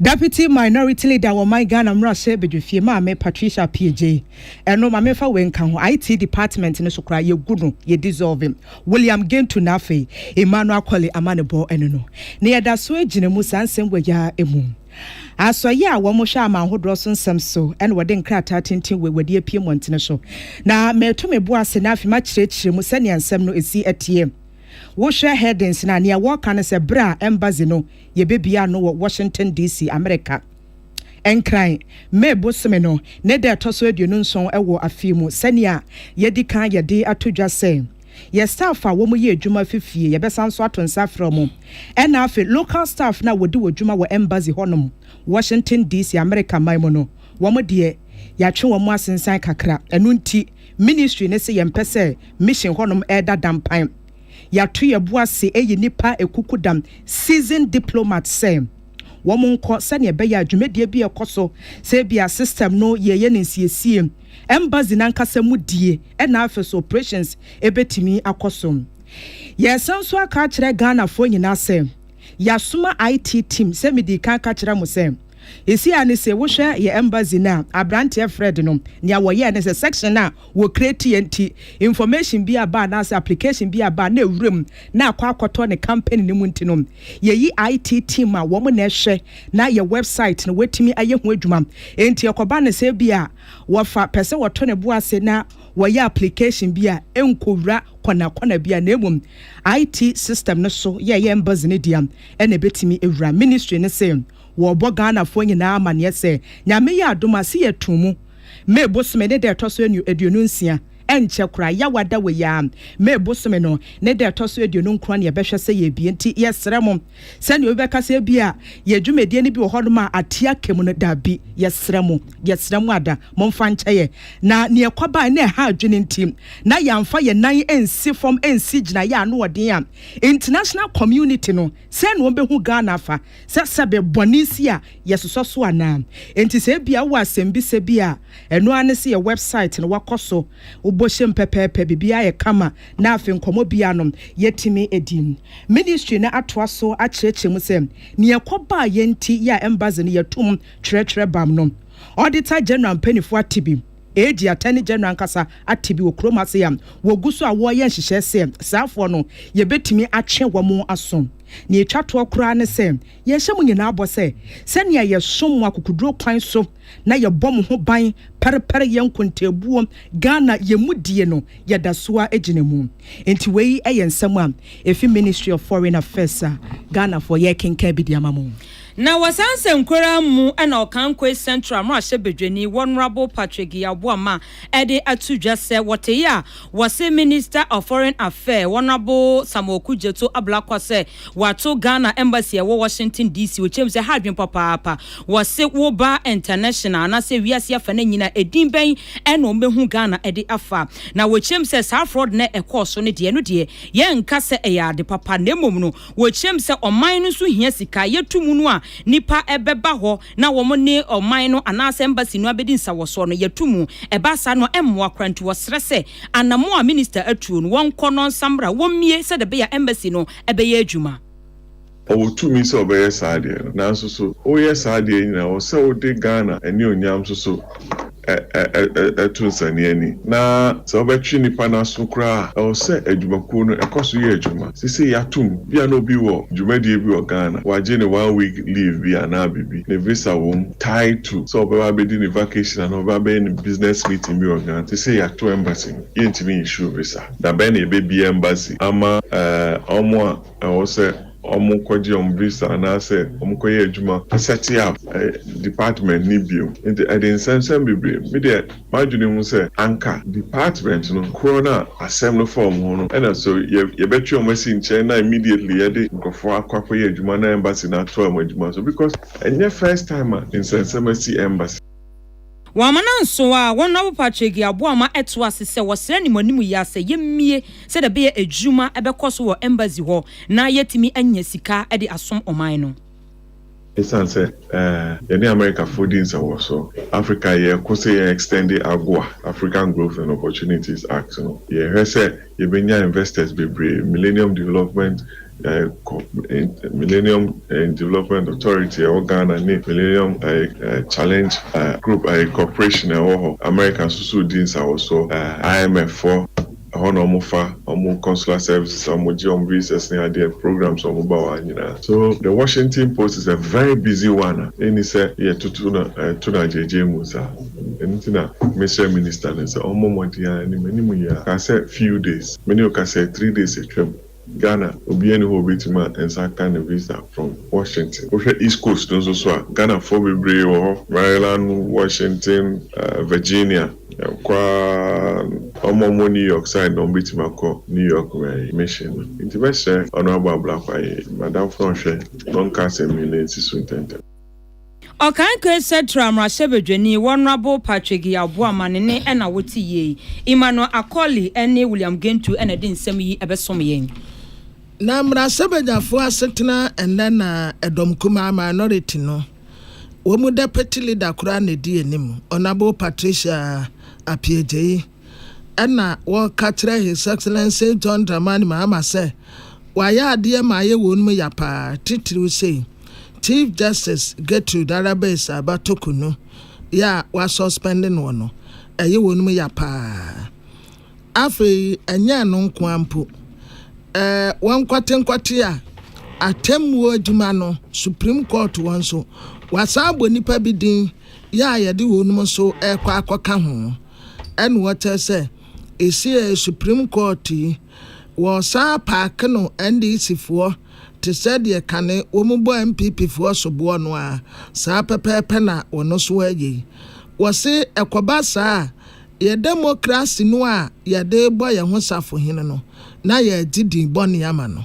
Deputy Minority Leader wɔ ɔman Ghana mmarahyɛ badwafie, Maame Patricia Appiagyei, ɛno ma memfa wei nka ho, IT department no so koraa yɛgu no, yɛ dissolve him, William Gentu na afei Emmanuel Akoli amanebɔ ne no na yɛda so gyina mu saa nsɛm wei ara mu. Asɔeɛ a wɔhwɛ aman ahodoɔ so nsɛm so na wɔde nkrataa tenten wei wɔde apue mmɔntene so na meto me bo ase na afei makyerɛkyerɛ mu sɛnea nsɛm no ɛsi teɛ. Wohwɛ headings no a, nea wɔka no sɛ berɛ a embassy no yebebuaa no wɔ Washington DC. Amerika Nkran. May bosome no ne da a ɛtɔ so aduonu nson wɔ afe mu. Sɛnea yɛadi kan yɛ de ato dwa sɛ yɛn staff a wɔyɛ adwuma fi fie, yɛbɛsan nso ato nsa afrɛ wɔn, ɛna afei local staff no a wɔdi wɔ dwuma wɔ Embassy hɔnom, Washington DC. Amerika man mu no, wɔn deɛ yɛatwe wɔn asensan kakra. Ɛno nti Ministry no se yɛmpɛ sɛ Mission hɔnom reda dampan. Yɛato yɛn bo ase ayi nnipa akukudam, seasoned diplomats, sɛ wɔnkɔ sɛnea ɛbɛyɛ a dwumadie bi a ɛkɔ so sɛ ebia system no yɛyɛ no nsiesie, embassy no ankasa mu die, ɛna afei nso operations bɛtumi akɔ so. Yɛresan nso aka akyerɛ Ghanafoɔ nyinaa sɛ yɛasoma IT team sɛ medii kan ka kyerɛɛ mo sɛ, Esi ara ne se, wohwɛ yɛn embassy no a, abranteɛ Fred no, nea wɔyɛɛ ne sɛ, section a wɔ createɛ nti, information bi a ba anaase application bi a ba na ɛwura mu na akɔ akɔtɔ ne company no mu nti no, yɛyi IT team a wɔn na ɛhwɛ na yɛ website no wɔatumi ayɛ ho adwuma. Enti ɛkɔba no sɛ ebia wɔfa pɛ sɛ wɔto ne bo ase na wɔyɛ application bi a, ɛnkɔwura kɔna kɔna bi a, na mmom IT system no so yɛ yɛn embassy no dea na ɛbɛtumi awura. Ministry no se, Wɔrebɔ Ghanafoɔ nyinaa amaneɛ sɛ Nyame yɛ adom a se yɛto mu May bosome ne da ɛtɔ so aduonu nsia, ɛnkyɛ koraa yaw ada wɔ yi ara May bosome no ne da ɛtɔ so aduonu nkron na yɛbɛhwɛ sɛ yɛrebie nti yɛsrɛ mo sɛdeɛ obi bɛka sɛ ebia yɛn dwumadie no bi wɔ hɔnom a ate aka mu no daabi yɛsrɛ mo yɛsrɛ mo ada momfa nkyɛ yɛn na nea ɛkɔbaeɛ na ɛha adwene nti na yɛamfa yɛn nan ansi fam ansi gyinaeɛ a ano ɔden a international community no sɛn na wɔbɛhu Ghana afa sɛ sɛbe bɔne nsi a yɛsosɔ so anaa. Enti sɛ ebia wowɔ asɛmbisa bi a, ɛno ara ne sɛ yɛ wɛbsaet no, wakɔ so, wobɔ hyem pɛpɛɛpɛ, biribiara yɛ kama, na afei nkɔmmɔ biara no, yɛatumi adi. Ministry no atoa so akyerɛkyerɛ mu sɛ, Nea ɛkɔbaa yɛn nti yɛ a Embassy no yɛatum twerɛtwerɛ bam no, Auditor General mpaninfoɔ ate bi, eedi Attorney General ankasa ate bi wɔ kurom ase a wɔgu so a wɔreyɛ nhyehyɛɛ sɛ saafoɔ no yɛbɛtumi atwe wɔn aso. Nea etwa toɔ koraa ne sɛ, yɛhyɛ mo nyinaa bɔ sɛ, sɛnea yɛsom mo akokoduro kwan so na yɛbɔ mo ho ban pɛrepɛre yɛn nkontaabuo Ghana yɛn mu die no, yɛda so ara gyina mu. Enti wei yɛ nsɛm a ɛfi Ministry of Foreign Affairs a Ghanafoɔ yɛrekenkan bi de ama mo. Na wɔ saa nsɛnkuraa mu na Ɔkankwei Central mmarahyɛbadwani, Honourable Patrick Yaw Boamah, de ato dwa sɛ wɔtee a wɔse Minister of Foreign Affair Honourable Samuel Okudzeto Ablakwa sɛ wato Ghana Embassy a ɛwɔ Washington DC okyerɛm sɛ ha adwene papaapa. Wɔse woba international anaasɛ wiase afa no nyina a edin bɛn na wɔbɛhu Ghana de afa? Na wɔkyerɛm sɛ saa fraud no a ɛkɔɔ so no deɛ ɛno deɛ yɛnka sɛ ɛyɛ ade papa na mmom no wɔkyerɛm sɛ ɔman no nso hia sika a yɛto mu no a nnipa bɛba hɔ na wɔne ɔman no anaasɛ embassy no abɛdi nsawɔsoɔ no, yɛto mu. Ɛba saa no, ɛmmoa koraa, nti wɔsrɛ sɛ anammɔn a Minister atuo no, wɔnkɔ no nsammra, wɔmmie sɛdeɛ ɛbɛyɛ a embassy no bɛyɛ adwuma. Ɔwɔ tumi sɛ ɔbɛyɛ saa adeɛ no, nanso so woyɛ saa adeɛ nyinaa, ɛwɔ sɛ wode Ghana anuonyam nso so ɛ-ɛ-ɛ-ɛ-ɛ-ɛ to nsania ani. Na sɛ wobɛtwe nipa no aso koraa a, ɛwɔ sɛ adwumakuo no ɛkɔ so yɛ adwuma. Seisei yɛatom, bi a na obi wɔ dwumadie bi wɔ Ghana, wagye ne one week leave bi anaa biribi, ne visa wɔ mu, tied to sɛ ɔbɛba abɛdi ne vacation anaa ɔbɛba abɛyɛ ne business meeting bi wɔ Ghana. Seisei yɛato embassy no, yɛntumi nissue visa. Da bɛn na yɛbɛbie embassy ama, ɛɛ, wɔn a. Ɛwɔ sɛ wɔkɔgye wɔn visa anaasɛ wɔkɔyɛ adwuma asɛte up department no bio. Enti ɛde nsɛmnsɛm bebree. Me deɛ m'adwene mu sɛ anka department no korɔ no a asɛm no fa wɔn ho no ɛna so yɛbɛtwe wɔn asi nkyɛn na immediately yɛde nkorɔfoɔ akɔ akɔyɛ adwuma na embassy no atoa wɔn adwuma so because ɛnyɛ first time a nsɛnsɛm asi embassy. Wɔama no nsow a wɔn Honorable Patrick Yeboah ma ɛto ase sɛ wɔsrɛ ne mo anim yi ara sɛ yɛmmue sɛdeɛ ɛbɛyɛ adwuma bɛkɔ so wɔ Embassy hɔ na yɛatumi anya sika de asom ɔman no. Esiane sɛ yɛne Amerikafoɔ di nsɛmwɔsoɔ, Africa yɛko sɛ yɛn extend AGOA, African Growth and Opportunities Act, no, yɛhwɛ sɛ Yɛbɛnya investors bebree, Millennium Development Millennium Development Authority a ɛwɔ Ghana ne Millennium Challenge Group Corporation a ɛwɔ hɔ, America nso so redi nsawɔsoɔ, IMF foɔ, ɛhɔ na wɔfa wɔn consular services a wɔgye wɔn visas ne adeɛ programs a wɔba wɔ ha nyinaa. So the Washington Post is a very busy one a ɛnni sɛ yɛtoto no to no agyaagyee mu saa. Ɛno nti na mesrɛ minister no sɛ ɔmmɔ mmɔden ara ni, m'anim yɛ a, kaa sɛ few days, me ne wo kasɛɛ three days atwam, Ghana obiara nni hɔ a ɔbɛtumi a nsa aka ne visa from Washington. Wohwɛ East Coast no nso so a, Ghanafoɔ bebree wɔ hɔ, Maryland, Washington, Virginia, ɛkɔ ara, wɔn a wɔwɔ New York side no wɔbɛtumi akɔ New York mission no. Nti mɛsrɛ Honourable Ablakwa, m'adamfo no ɔhwɛ na ɔnka asɛm yi na ɛnsi so ntɛntɛm. Ɔkannkɔe Setra mmarahyɛbadwani Honourable Patrick Yaw Boamah ne ne ɛna wote yie yi, Emmanuel Acoli ne William Gentu na ɛde nsɛm yi bɛsom yɛn. Na mmarahyɛbadwafoɔ asetena ɛnnɛ na ɛdɔm kumaa, minority, no, wɔn mu deputy leader koraa na ɛdi anim, Honourable Patricia Appiagyei. Ɛnna wɔka kyerɛɛ His Excellency John Dramani Mahama sɛ wayɛ adeɛ ma ayɛ wɔnom ya paa, titiriw sei, Chief Justice Gertrude Araba-Essah-Abah Toku no yɛ a wɔasuspɛnde noɔ no, ɛyɛ wɔnom ya paa. Afei ɛnyɛ ɛno nko ara mpo, ɛɛ wɔnkwatenkwatea atemmuo adwuma no, Supreme Court hɔ nso, wɔasan abɔ nnipa bi din yɛ a yɛde wɔnom nso rekɔ akɔka ho. Ɛna ɔkyerɛ sɛ ɛsiee Supreme Court yi, wɔsan paake no NDC foɔ te sɛ deɛ kane wɔn bɔ NPP foɔ soboɔ no ara, saa pɛpɛɛpɛ na wɔn nso ɛyɛ yi. Wɔse ɛkɔba saa a, yɛ demokrase no a yɛde rebɔ yɛn ho safohene no na yɛregye din bɔne ama no.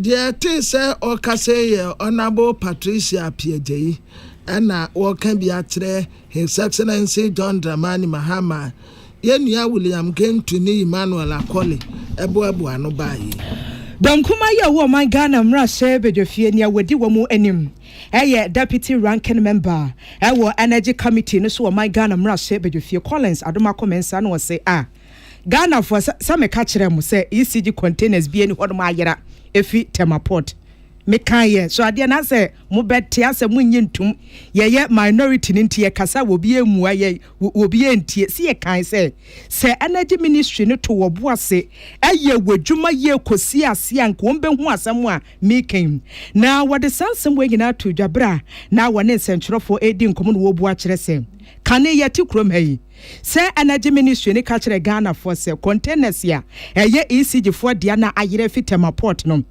Deɛ ɛtee sɛ ɔrekasa yi yɛ Honourable Patricia Appiah-Gyayi ɛna ɔreka bi akyerɛ His Excellency John Dramani Mahama a yɛn nua William Gentu ne Emmanuel Akoli boaboa ano baa yi. Dɔm kumaa yi a ɔwɔ ɔman Ghana mmarahyɛ badwafie nea wɔdi wɔn anim yɛ Deputy Ranking Member wɔ Energy Committee no so wɔ ɔman Ghana mmarahyɛ badwafie Collins Adomakoh Mensah na ɔse a. Ghanafoɔ sɛ meka kyerɛ mo sɛ ECG containers bi ɛni hɔnom ayera ɛfi Tema port meka yɛ so adeɛ na sɛ mo bɛ te asɛ mo nye ntum yɛyɛ minority no nti yɛ kasa wɔ bi ɛmua yɛ wɔ bi ɛntie si yɛ kan sɛ sɛ energy ministry no to wɔ bo ase ɛyɛ wɔ dwuma yɛ kɔsi ase a nka wɔn bɛ hu asɛm a mekan na wɔde saa nsɛm wɔ nyinaa to dwa berɛ a na wɔne nsɛntwerɛfoɔ ɛdi nkɔmɔ na wɔbu akyerɛ sɛ kane yɛ te kurom ha yi sɛ Energy Ministry no ka kyerɛɛ Ghanafoɔ sɛ containers a ɛyɛ ECG foɔ dea no a ayerɛ afi Tema Port no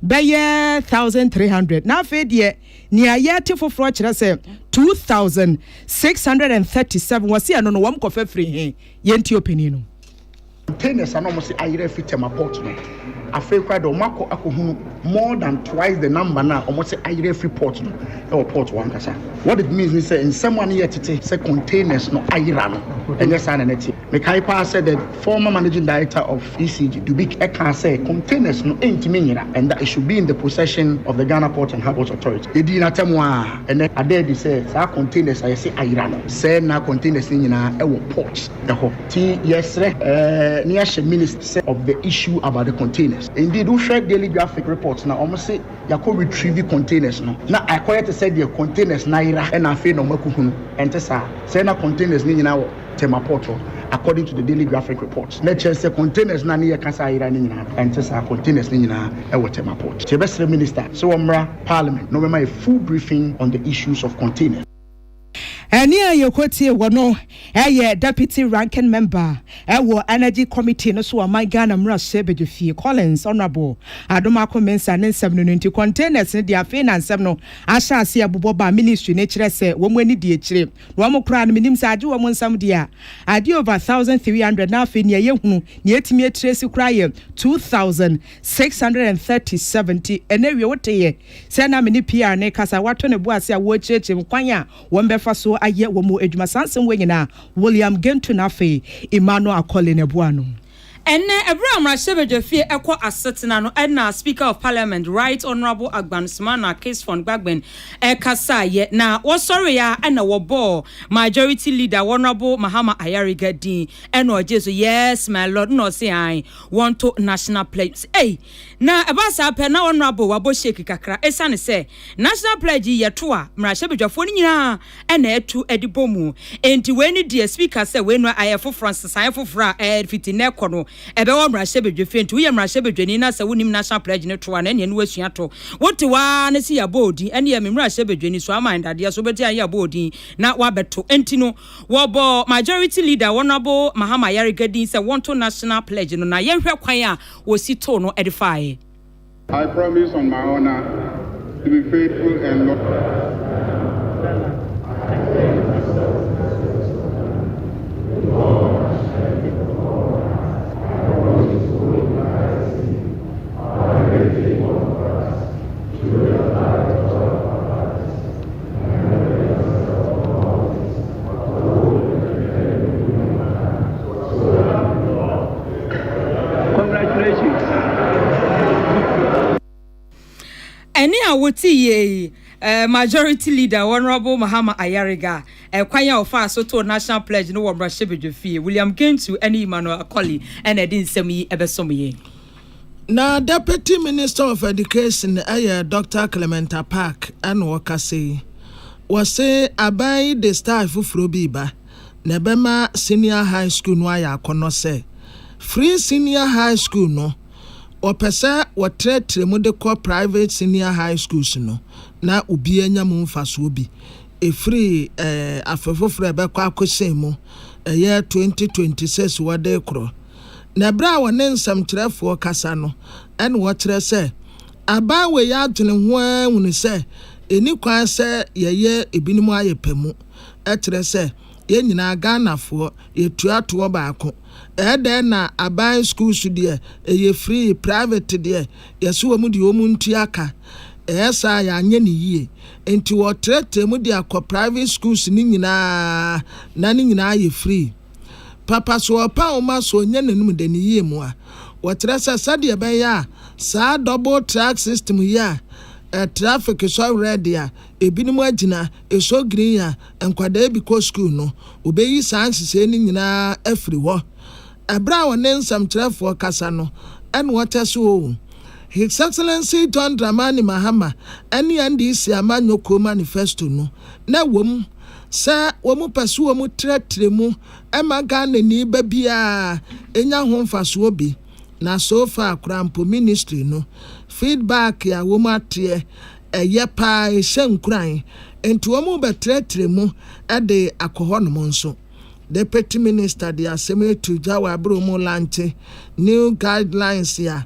bɛyɛ thousand three hundred na afei deɛ nea yɛte foforɔ kyerɛ sɛ two thousand six hundred and thirty seven wɔse ɛno no wɔn kɔfa firi he? Yɛntie ɔpanin no. Spontaneous a na wɔsi ayerɛ afi Tema port no, afei koraa deɛ wɔakɔ akɔhunu more than twice the number no a wɔsi ayerɛ afiri port no wɔ port hɔ ankasa. What it means ne sɛ nsɛm a ne yɛ tete sɛ containers no ayera no, ɛnyɛ saa na na ɛteɛ. Mekae paa sɛ the former managing director of ECG, Dubik, kaa sɛ containers no ntumi nyera and that it should be in the possession of the Ghana Port and Harbours Authority. Yɛdii no atɛm ara a, ɛnnɛ ada adi sɛ saa containers a yɛse ayera no, sɛɛ na containers no nyinaa wɔ port. hɔ. Nti yɛsrɛ na yɛahyɛ Minister sɛ ɔbɛ issue about the containers. Indeed, wohwɛ Daily Graphic report no a, wɔn se yɛakɔ retrieve containers no, na akɔyɛ te sɛ deɛ containers no ayera na afei na wɔakɔhunu. Ɛnte saa. Sɛɛ na containers no nyinaa wɔ Tema Port hɔ, according to the Daily Graphic report. Na ɛkyerɛ sɛ containers no a ne yɛka sɛ ayera no nyinaa no, ɛnte saa. Containers no nyinaa wɔ Tema Port. Nti yɛbɛsrɛ Minister sɛ wɔmmra Parliament na wɔbɛma yɛn full briefing on the issues of containers. Ɛnne a yɛkɔtie wɔ no yɛ Deputy Ranking Member wɔ Energy Committee no so Ɔman Ghana Mmarahyɛbadwafie, Collins Honourable Adom Ako Mensah ne nsɛm no no nti, containers no deɛ afei na nsɛm no ahyɛ aseɛ bobɔ ba Ministry no kyerɛ sɛ wɔn ani di akyire na wɔn koraa no menim sɛ agye wɔn nsɛm deɛ a adeɛ over 1300 na afei nea ɛyɛ hunu nea ɛtumi atiresi koraa yɛ 2637 nti ɛnɛ wie woteeɛ Sɛ na me ne Pierre rekasa, wato ne bo ase a ɔrekyerɛkyerɛ mu kwan a wɔbɛfa so ayɛ wɔn adwuma. Saa nsɛm wei nyinaa, William Gentoo na afei Emmanuel Akoli na ɛboaa no. Ɛnnɛ, bere a mmarahyɛbadwafie rekɔ asetena no, ɛnna Speaker of Parliament, Right Honourable Agbanu Smana Kisfon Gbagbin rekasaeɛ, na wɔsɔreeɛ ara ɛnna wɔbɔɔ Majority Leader, Honourable Mahama Ayariga din, ɛnna ɔgyee so, Yes, my Lord, ɛnna ɔse, Ae, wɔnto National Pledge. Na ɛbaa saa pɛ na Honourable wabɔ shake kakra esiane sɛ National Pledge yi yɛ to a mmarahyɛbadwafoɔ no nyinaa na ɛtu de bɔ mu nti wei ne deɛ Speaker sɛ wei no ayɛ foforɔ nsesaeɛ foforɔ a ɛfiti nnɛ kɔ no ɛbɛwɔ mmarahyɛbadwafie nti woyɛ mmarahyɛbadwani na sɛ wonim National Pledge no to a na ɛneɛ no wasua to wote hɔ ara ne se yɛabɔ odin ɛneɛ me mmarahyɛbadwani so ama ndadeɛ so wobɛte a ne yɛabɔ odin na wabɛto nti no wɔbɔ Majority Leader Honourable Mahama Ayariga din sɛ wɔnto National Pledge no na yɛnhwɛ kwan a wɔsi too no de faeɛ. I promise on my honor to be faithful and loyal. Ɛnne a wotiiɛ yi eh, Majority Leader Honorable Mahama Ayariga eh, kwan a ɔfaa so too National Pledge no wɔ mmarahyɛbadwafie William Gentu ne Emmanuel Akoli na ɛde nsɛm yi ɛbɛsom yɛn. Na Deputy Minister of Education yɛ Dɔkta Clement Apaak na ɔkasa yi. Wɔse aban yi de style foforɔ bi reba na ɛbɛma senior high school no ayɛ akɔnnɔ sɛ firi senior high school no wɔpɛ sɛ wɔtrɛtrɛ mu de kɔ private senior high schools no na obiara nya mu mfasoɔ bi ɛfiri afe foforɔ a ɛbɛkɔ akɔsɛn mu ɛyɛ 2026 wɔde rekorɔ na ɛberɛ a wɔne nsɛmtwerɛfoɔ kasa no ɛna wɔkyerɛ sɛ abaa wei adwene ho ara hunu sɛ ɛnni kwan sɛ yɛyɛ ebinom ayɛ pɛ mu kyerɛ sɛ yɛn nyinaa Ghanafoɔ yɛtua toɔ baako ɛdɛn na aban schools deɛ ɛyɛ free private deɛ yɛse wɔn deɛ wɔn ntua ka ɛyɛ saa a yɛanyɛ ne yie nti wɔtrɛtrɛ mu de akɔ private schools no nyinaa na ne nyinaa yɛ free. Papa so ɔpa wo ma so ɔnya n'anom dɛ ne yie mu a? Wɔkyerɛ sɛ sɛdeɛ ɛbɛyɛ a saa double track system yi a traffic sɔ red a ebinom agyina, ɛsɔ green a nkwadaa bi kɔ sukuu no, wɔbɛyi saa nhyehyɛe no nyinaa afiri hɔ. Ɛberɛ a ɔne nsɛmkyerɛfoɔ kasa no ɛna ɔkyɛ sɛ oo, His Excellency John Dramani Mahama ɛne NDC amanyɔ kuo manifesto no na ɛwɔ mu, sɛ wɔpɛ sɛ wɔtrɛtrɛ mu ma Ghanani ba biara nya ho mfasoɔ bi, na so far koraa mpo Ministry no feedback a wɔateɛ ɛyɛ paa, ɛhyɛ nkuran, nti wɔrebɛtrɛtrɛ mu de akɔ hɔnom nso. Deputy Minister de asɛm yi to dwa wɔ abere wɔrelankye new guidelines a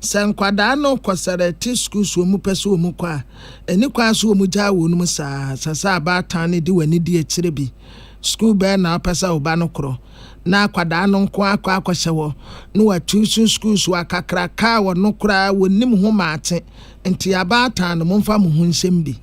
Sɛ nkwadaa no kɔ Sɛrɛte sukuu so wɔn pɛ sɛ wɔn kɔ a, ɛni kwan so wɔn gyaa wɔn mu saa. Sɛ sɛ abaatan no de w'ani di akyire bi, sukuu bɛn na wopɛ sɛ wo ba no korɔ? Na akwadaa no nko ara kɔ akɔhyɛ hɔ na watu so sukuu so akakraka a ɔno koraa wɔnnim ho maate. Nti abaatan no momfa mo ho nhyɛ mu bi.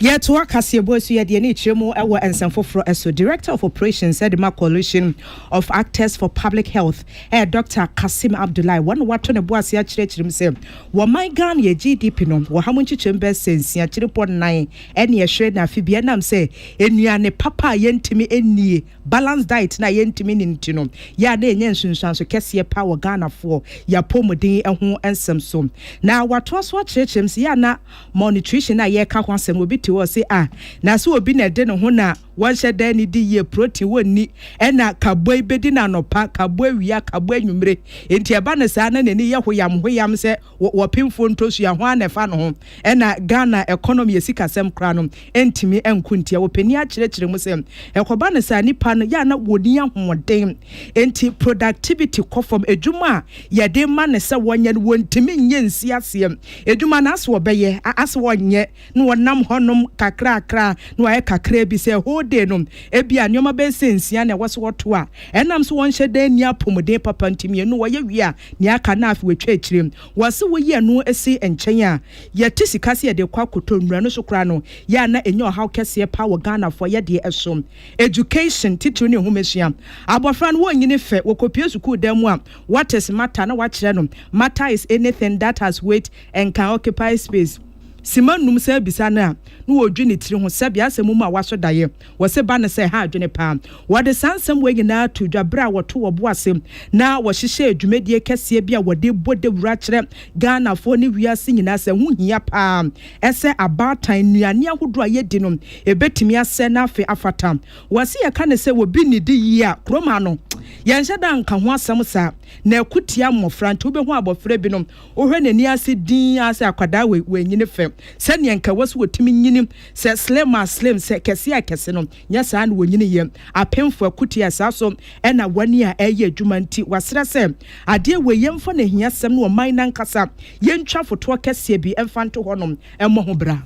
Yɛtoa kaseɛbɔ asuɛ deɛ ne kyerɛ mu wɔ nsɛm foforɔ so. Director of Operations de ma Coalition of Actors for Public Health ɛyɛ Doctor Kassim Abdullahi. Wɔn na wɔato ne bo ase akyerɛkyerɛ mu sɛ wɔ man Ghana yɛ GDP no wɔ ha mu nkyekyɛmu bɛyɛ sɛ nsiakyirepɔ nnan ɛne ɛhwere na afe biara ɛnam sɛ nnuane papa a yɛntumi nnie, balanced diet, no a yɛntumi nni no nti no yɛ a na yɛnya nsunsuanso kɛseɛ paa wɔ Ghanafoɔ yɛ apɔmuden ho nsɛm so. Na watoa so akyerɛkyerɛ mu sɛ yɛ a na Malnutrition a yɛreka ho asɛm no, obi te hɔ a ɔse, Ah, na sɛ obi na ɛde ne ho na wɔnhyɛ da nnidi yie, protein wɔnni, ɛna kaboi bɛdi no anɔpa, kaboi awia, kaboi anwummere. Enti ɛba no saa na n'ani yɛ hoyam hoyam sɛ wɔ wɔpemfoɔ ntɔsua, ho ara na ɛfa ne ho. Ɛna Ghana economy, yɛ sikasɛm koraa no, ntumi nko ntia. Wɔpanin ara kyerɛkyerɛ mu sɛ, ɛkɔba no saa nnipa no yɛ a na wɔnni ahoɔden, enti productivity kɔ fam. Adwuma a yɛde ma no sɛ wɔnyɛ no, wɔntumi nyɛ nsi aseɛ. Adwuma no ase wɔbɛyɛ, ase wɔnyɛ, na wɔnam hɔnom kakrakra, na wɔayɛ kakra bi sɛ whole day no, ebia nneɛma bɛyɛ sɛ nsia na ɛwɔ sɛ wɔto a. Ɛnam sɛ wɔnhyɛ da nni apɔmuden papa nti, mmienu wɔyɛ wie a, nea aka no afei wɔatwa akyire. Wɔse woyi ɛno si nkyɛn a, Yɛte sika sɛ yɛde rekɔ akɔtɔ nnura no so koraa no yɛ a na ɛnyɛ ɔhaw kɛseɛ paa wɔ Ghanafoɔ yɛdeɛ ɛso. Education, titiriw ne nhomasua. Abɔfra no wɔnyini fɛ, wɔkɔpue sukuu dan mu a, what is matter? Na wɔakyerɛ no, matter is anything that has weight and can occupy space. Sima nnum saa bisa no a, na ɔredwi ne tiri ho sɛbea asɛm mu a wɔasɔ daeɛ. Wɔse ba no sɛ ɛha adwene paa. Wɔde saa nsɛm wei nyinaa too dwa bere a wɔto wɔn bo ase na wɔhyehyɛɛ dwumadie kɛseɛ bi a wɔde rebɔ dawuro akyerɛ Ghanafoɔ ne wiase nyinaa sɛ ɛho hia paa sɛ abaatan nnuane ahodoɔ a yɛdi no bɛtumi asɛe na afei afata. Wɔse yɛka no sɛ obi nnidi yie a, kurom ha no yɛnhyɛ da nka ho asɛm saa na ɛko tia mmɔfra nti wobɛhu abɔfra bi no wohwɛ n'ani ase dinn ara sɛ akwadaa wei, wanyini fɛ sɛdeɛ nka ɛwɔ sɛ wɔtumi nyini Sɛ Slim a Slim, sɛ Kɛse a Kɛse no, nyɛ saa na wɔnyiniiɛ. Apemfo akutie a saa so na wɔn ani a ɛreyɛ adwuma nti, wɔasrɛ sɛ, Adeɛ wei, yɛmfa no ahiasɛm no ɔman no ankasa, yɛntwa fotoɔ kɛseɛ bi mfa nto hɔnom mmɔ ho bra.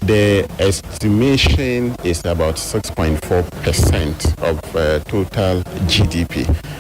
The estimation is about six point four percent of total GDP.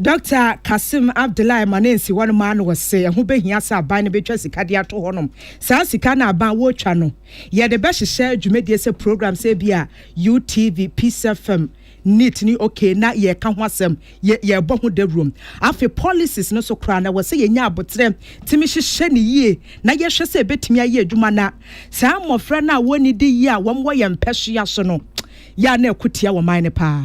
Dɔkta Kassim Abdullahi ma ne nsi hɔ no maa no ɔse ɛho bɛhia sɛ aban no bɛtwa sika de ato hɔ nom. Saa sika no a aban wɔretwa no, yɛde bɛhyehyɛ dwumadie sɛ program sɛ ebi a UTV, Peace FM, NEET ne OK na yɛreka ho asɛm, yɛ yɛrebɔ ho dawurom. Afei policies no so koraa no ɛwɔ sɛ yɛnya aboterɛ tumi hyehyɛ no yie na yɛhwɛ sɛ ɛbɛtumi ayɛ adwuma na saa mmɔfra no a wɔnnidi yie a wɔn wɔ yɛn mpɛsoa so no yɛ a na ɛko tia wɔn man no paa.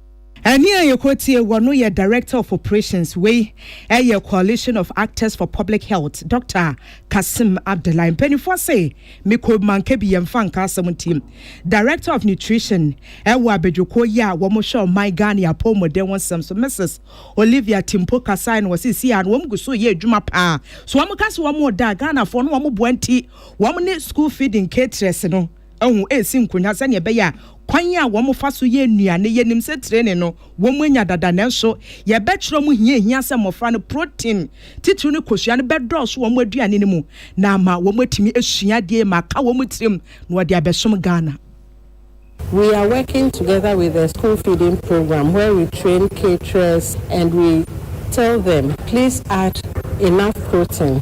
Ɛne a yɛkɔtie wɔ no yɛ Director of Operations, wei yɛ Coalition of Actors for Public Health, Doctor Kassim Abdullahi. Mpaninfoɔ se mekɔ manka bi yɛmfa nka asɛm nti. Director of Nutrition wɔ abadwokuo yi a wɔhwɛ ɔman Ghane apɔwmuden ho nsɛm so Mrs. Olivia Timpo kasae na wɔse siaa no wɔn gu so yɛ adwuma paa. So wɔn ka se wɔn da a Ghanafoɔ no wɔn boa nti wɔn ne school feeding caterers no ho resi nkonya sɛnea ɛbɛyɛ a kwan a wɔfa so yɛ nnuane, yenim sɛ tire ne no, wɔanya dada. Nanso, yɛbɛkyerɛ wɔn hia a ehia sɛ mmofra no protein, titiriw no kosua no, bɛdɔɔso wɔn aduane no mu na ama wɔatumi asua ade ma aka wɔn tirim na wɔde abɛsom Ghana. We are working together with the school feeding program where we train caterers and we tell them please add enough protein.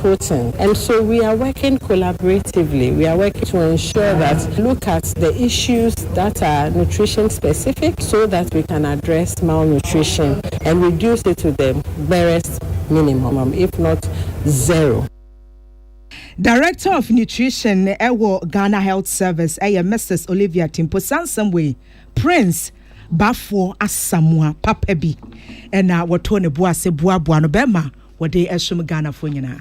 Putin and so we are working collaboratively, we are working to ensure that we look at the issues that are nutrition specific so that we can address malnutrition and reduce it to the barest minimum if not zero. Director of Nutrition ɛwɔ Ghana Health Service ɛyɛ Mrs. Olivia Timpo saa nsɛm wei Prince Bafoɔ Asamoah papa bi ɛna wɔtoo ne bo ase boaboa no bɛrima Wɔde som Ghanafoɔ nyinaa.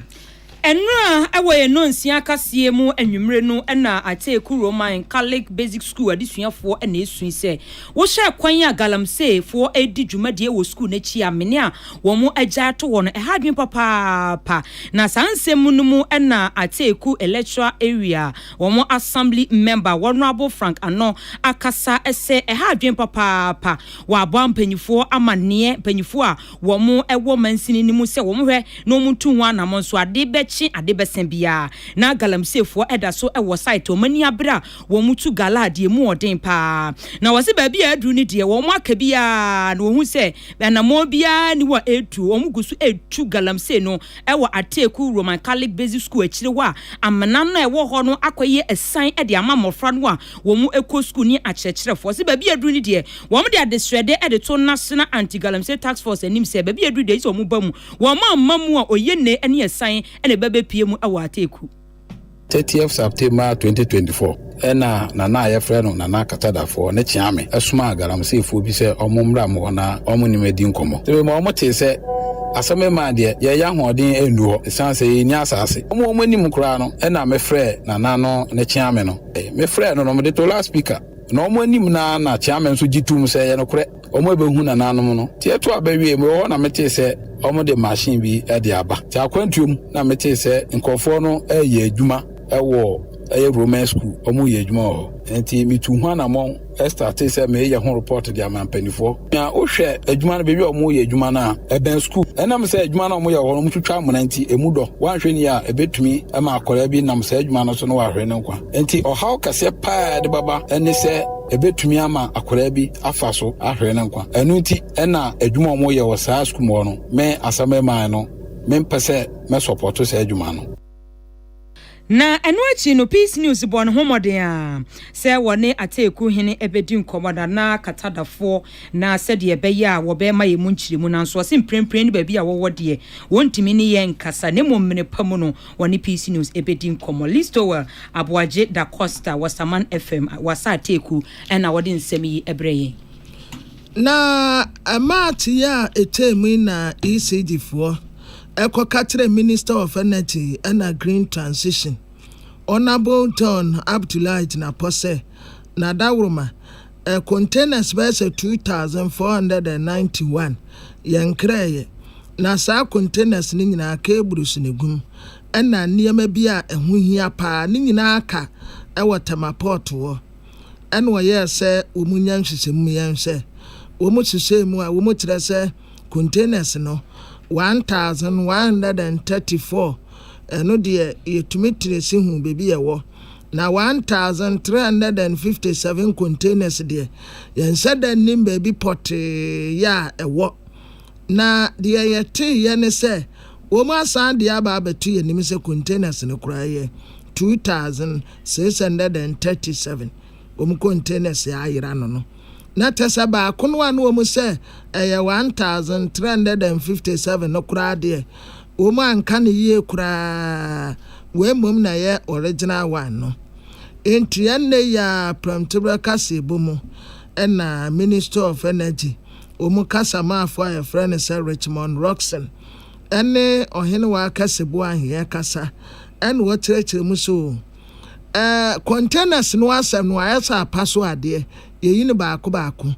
Nnora wɔ yɛn nnɔnsia kaseɛ mu anwummere no na Atee Kurow Man Catholic Basic School adesuafoɔ na ɛsui sɛ wohyɛ kwan a Galamsey foɔ redi dwumadie wɔ sukuu no akyi a mene a wɔn agyae to hɔ no ɛha adwene papaapa na saa nsɛm no mu na Ateeku Electoral Area wɔn Assembly Member Honourable Frank Ano akasa sɛ ɛha adwene papaapa wɔ aboa mpanyifoɔ amanneɛ mpanyifoɔ a wɔwɔ mansini no mu sɛ wɔnhwɛ na wɔntu ho anamɔ nso, ade bɛkye ade bɛsa biara, na galamseefoɔ da so wɔ site a wɔn ani abere a wɔtu gala deɛ mu ɔden paa. Na wɔse baabi a aduru no deɛ wɔn aka biara na wɔhu sɛ anamɔ biara nni hɔ a ɛretu. Wɔn gu so retu galamsee no wɔ Ateku Roman Catholic Basic School akyire hɔ a amena no a ɛwɔ hɔ no akɔyɛ asiane de ama mmɔfra no a wɔkɔ sukuu ne akyerɛkyerɛfoɔ. Wɔse baabi a aduru no deɛ Wɔde adesrɛde de too National Anti-Galamsey Task Force anim sɛ baabi a ɛduru deɛ ɛsɛ sɛ wɔba mu. Wɔamma mu a, Oyene ne Assan na ɛbɛbɛpue mu wɔ Ateku. Thirtieth September twenty twenty four na Nana a yɛfrɛ no Nana Katadafoɔ ne Kyeame somaa Galamseyfoɔ bi sɛ wɔn mmra mo hɔ na wɔn ne me adi nkɔmmɔ. Tebee mu a wɔn tee sɛ asɛm reman deɛ, yɛn ahoɔden annu hɔ ɛsiane sɛ yɛnni asaase. Wɔn a wɔn anim koraa no na me frɛɛ Nana no ne Kyeame no. Me frɛɛ no no, mede too loudspeaker. Na wɔn anim no ara na Kyeame nso gye toom sɛ, ɛyɛ nokorɛ, wɔrebɛhu nananom no. Nti ɛtoo a bɛwieeɛ, mewɔ hɔ na metee sɛ wɔde machine bi de aba. Nti akwantuo mu na metee sɛ nkorɔfoɔ no reyɛ adwuma wɔ ɛyɛ Roman School, wɔreyɛ adwuma wɔ hɔ. Nti metuu ho anammɔn startee sɛ mereyɛ ho report de ama mpaninfoɔ. Na wohwɛ adwuma no, baabi a wɔyɛ adwuma no a, ɛbɛn sukuu. Ɛnam sɛ adwuma no a wɔyɛ hɔ no, wɔtwitwa amena nti, emu dɔ. Wɔanhwɛ ni a, ebetumi ama akwadaa bi nam saa adwuma no so na wahwere ne nkwa. Enti ɔhaw kɛseɛ paa a ɛde bɛba ne sɛ ebetumi ama akwadaa bi afa so ahwere ne nkwa. Ɛno nti na adwuma a wɔyɛ wɔ saa sukuu mu hɔ no, me Asɛm Mmaeɛ no, mempɛ sɛ mɛsɔpɔto saa adwuma no. Na ɛno akyi no Peace News bɔɔ ne ho mmɔden ara sɛ wɔne Ataaku hene ɛbɛdi nkɔmmɔ na na kata da foɔ na sɛdeɛ ɛbɛyɛ a wɔbɛma yɛn mu nkyerɛmu nanso ɔse mprempren no baabi a wɔwɔ deɛ wɔntumi ne yɛn nkasa na mmom mene pa mu no wɔne Peace News ɛbɛdi nkɔmmɔ. Listowel Aboagye Da Costa wɔ Saman FM wɔ Asa Ataaku na ɔde nsɛm yi brɛ yɛn. Na ɛmaa teyɛ a ɛtwaa mu yi na ECD foɔ ɛkɔ ka kyerɛ Minister of Energy ɛna Green Transition, Honourable John Abdullahi Jinapor sɛ Nadaworoma, ɛ, containers bɛyɛ sɛ 2,491 yɛnkrɛeɛ, na saa containers no nyinaa cables na ɛgum, ɛna nneɛma bi a ɛho hia pa ara no nyinaa aka wɔ Tema Port hɔ. Ɛna ɔyɛɛ sɛ wɔnya nhwehwɛmu yɛnhwɛ wɔn nhyehyɛɛ mu a wɔkyerɛ sɛ, containers no, one thousand one hundred and thirty four, ɛno deɛ yɛtumi tresi hu baabi a ɛwɔ, na one thousand three hundred and fifty seven containers deɛ, yɛnhyɛ da nnim baabi pɔtee yɛ a ɛwɔ. Na deɛ yɛteeɛ ne sɛ, wɔasan de aba abɛto yɛn anim sɛ containers no koraa yɛ two thousand six hundred and thirty seven, wɔn containers a ayera no no. na tɛ sɛ baako no a na wɔn sɛ ɛyɛ 1357 no koraa deɛ, wɔn anka no yie koraa, wei mmom na ɛyɛ original one no. Enti ɛnnɛ yi ara Prɛmtoberɛ kaseɛbɔ mu na Ministry of Energy wɔn kasamaafoɔ a yɛfrɛ no sɛ Richmond Rockson ne Ɔhenewa Akɛse Boaheɛ kasa na wɔkyerɛkyerɛ mu sɛ, eh, containers no asɛ no ayɛ sɛ apa so adeɛ, yɛyi no baako baako.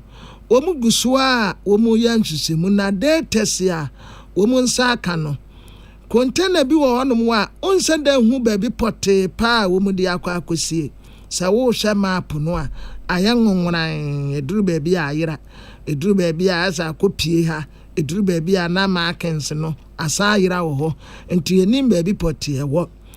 Wɔn gu so a wɔn reyɛ nhwehwɛmu na day test a wɔn nsa aka no, container bi wɔ hɔnom a wonsɛ da nhu baabi pɔtee paa a wɔn de akɔ akɔsie. Sɛ wohwɛ map no a, ayɛ nwoworan, ɛduru baabi a ayera, ɛduru baabi a ayɛ sɛ akɔ pie ha, ɛduru baabi a na markings no asan ayera wɔ hɔ, nti yɛnim baabi pɔtee ɛwɔ.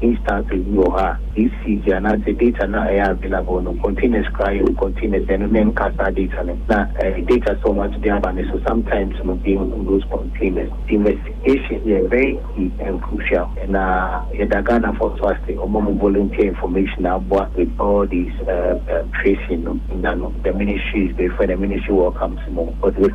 instances bi wɔ hɔ a usage anaasɛ data no a ɛyɛ available no containers koraa yɛ containers a ɛno menka saa data no na data sɛ wɔn ato de aba no so sometimes no they remove those containers investigation yɛ very key and crucial na yɛda Ghanafoɔ nso ase wɔn a wɔn volunteer information a aboa with all these tracing no nya no the ministry is grateful and the ministry welcomes more.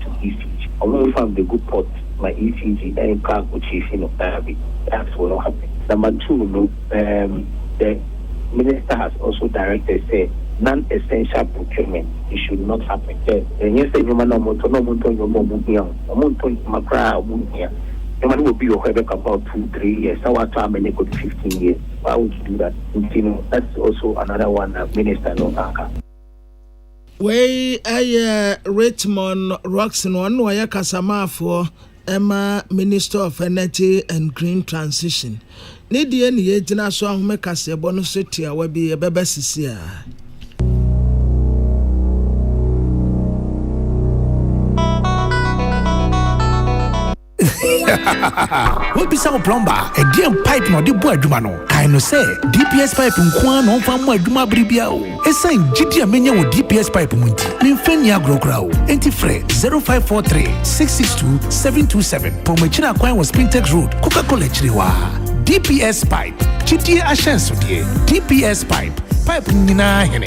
to ECG. Ɔmo mfa mbegu pot ma ECG ɛyɛ prank o kyiifi no daabi that will not happen. Number two no erm the minister has also directed sɛ non essential procurement it should not happen sɛ ɛnyɛ sɛ nnoɔma no a ɔmo tɔ na ɔmo ntɔ nnoɔma a ɔmo hia o ɔmo ntɔ nnoɔma koraa a ɔmo nhia nnoɔma no wɔ bi wɔ hɔ a ɛbɛkɔ about two three years na watɔ ama no ɛkɔdu fifteen years why would you do that nti no that's also another one a minister no aka. Wei yɛ Richmond Rocks no, ɔno na ɔyɛ kasamaafoɔ ma Minister of Energy and Green Transition. Ne deɛ ne yɛgyina so ahome kaseɛbɔ no so tiawa bi ɛbɛba sisi a. Woabisa wo plɔmba a, ɛdeɛn pipe na ɔde bɔ adwuma no? Kae no sɛ, DPS pipe nko ara na ɔmfa mmɔ adwuma bere biara o. Ɛsiane gyidie a manya wɔ DPS pipe mu nti, memfa nni agorɔ koraa o. Enti frɛ 0543 662 727 pɔn akyiri akwan wɔ Spintex Road, Coca-Cola akyiri hɔ ara. DPS Pipe, gyidie ahyɛnsodeɛ. DPS Pipe, pipe nyinaa hene.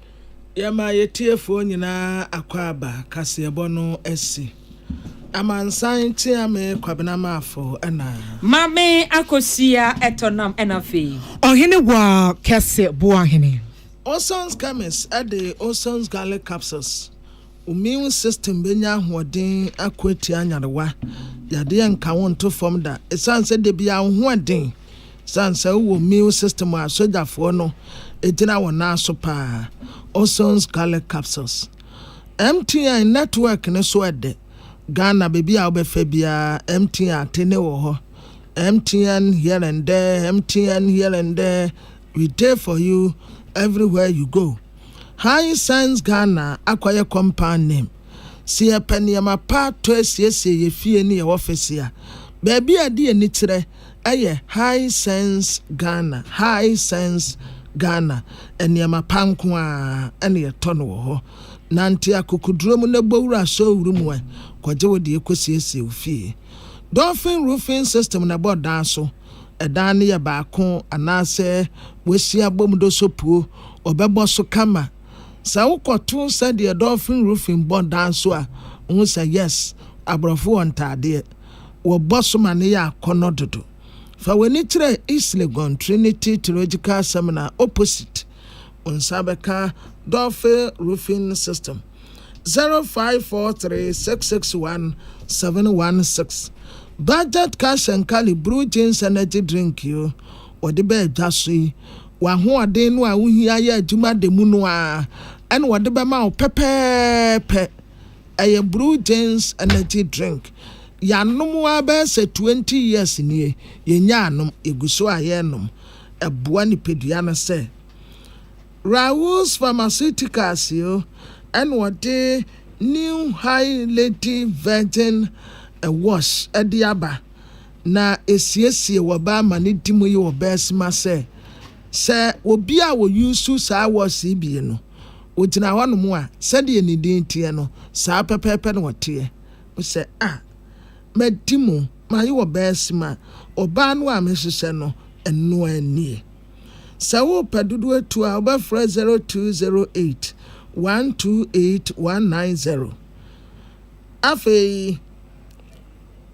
Yɛma yɛtiefoɔ nyinaa akwaaba kaseɛbɔ no asi. Amansan tea me Kwabena Maafo na. Maame Akosua tɔ nam na afei. Ɔhene waa kɛse boa hene. Ozon's chemist de Ozon's garlic capsules. Wo immune system bɛnya ahoɔden ako atia nyarewa. Yadeɛ nka wo nto fam da. Ɛsiane sɛ da biara wo ho ɛden, ɛsiane sɛ wowɔ immune system a sogyafoɔ no gyina wɔn nan so paa. Ozone Scarlet Capsules MTN network no so ɛdɛ. Ghana baabi a wobɛfa biara MTN atene wɔ hɔ. MTN here and there, MTN here and there, we dey for you everywhere you go. High Sense Ghana akɔyɛ compound name. Sɛ yɛpɛ nneɛma pa tɔ asiesie yɛn fie ne yɛn ɔfese a, baabi a ɛde ani kyerɛ yɛ High Sense Ghana. High Sense Ghana, nneɛma pa nko ara na yɛtɔ no wɔ hɔ. Nante akokoduro mu na bɔ wura asɔw wuru mu ɛ, kɔgye wo deɛ kɔsiesie wo fie. Dolphin Roofing System na ɛbɔ dan so. Dan no yɛ baako anaasɛ wɔasi abom do sopuo, wɔbɛbɔ so kama. Sɛ wokɔto sɛdeɛ Dolphin Roofing bɔ dan so a, wohu sɛ yes, aborɔfo wɔ ntaadeɛ. Wɔbɔ so ma no yɛ akɔnnɔ dodo. Fa w'ani kyerɛ East Legon Trinity Theological Seminary opposite. Wo nsa bɛka Dolphin Roofing System. 0543 661 716 Budget Cash and Carry Bruu Jeans Energy Drink yi wɔde ba adwa so yi. W'ahoɔden no a wohia yɛ adwuma da mu no ara na wɔde bɛma wo pɛpɛɛpɛ. Ɛyɛ Bruu Jeans Energy Drink. Yɛanom ara bɛyɛ sɛ 20 years nie. Yɛnyaa nom, yɛgu so ara yɛrenom. ɛboa nipadua no sɛ Raoult's Pharmaceuticals yi na wɔde New High Lady Virgin Wash de aba, na ɛsiesie wɔ bɛ amanedi mu yi wɔ bɛ asima sɛ, sɛ obi a ɔyuusu saa wash yi bie no, ɔgyina hɔnom a, sɛdeɛ ne din teɛ no, saa pɛpɛɛpɛ na ɔteɛ. Mesɛ, ah, madi mu. Maye ɔbaa sima. Ɔbaa no a mehyehyɛ no, ɛno ara nie. Sɛ wopɛ dodoɔ tu a, wobɛfrɛ 0208 128 190. Afei.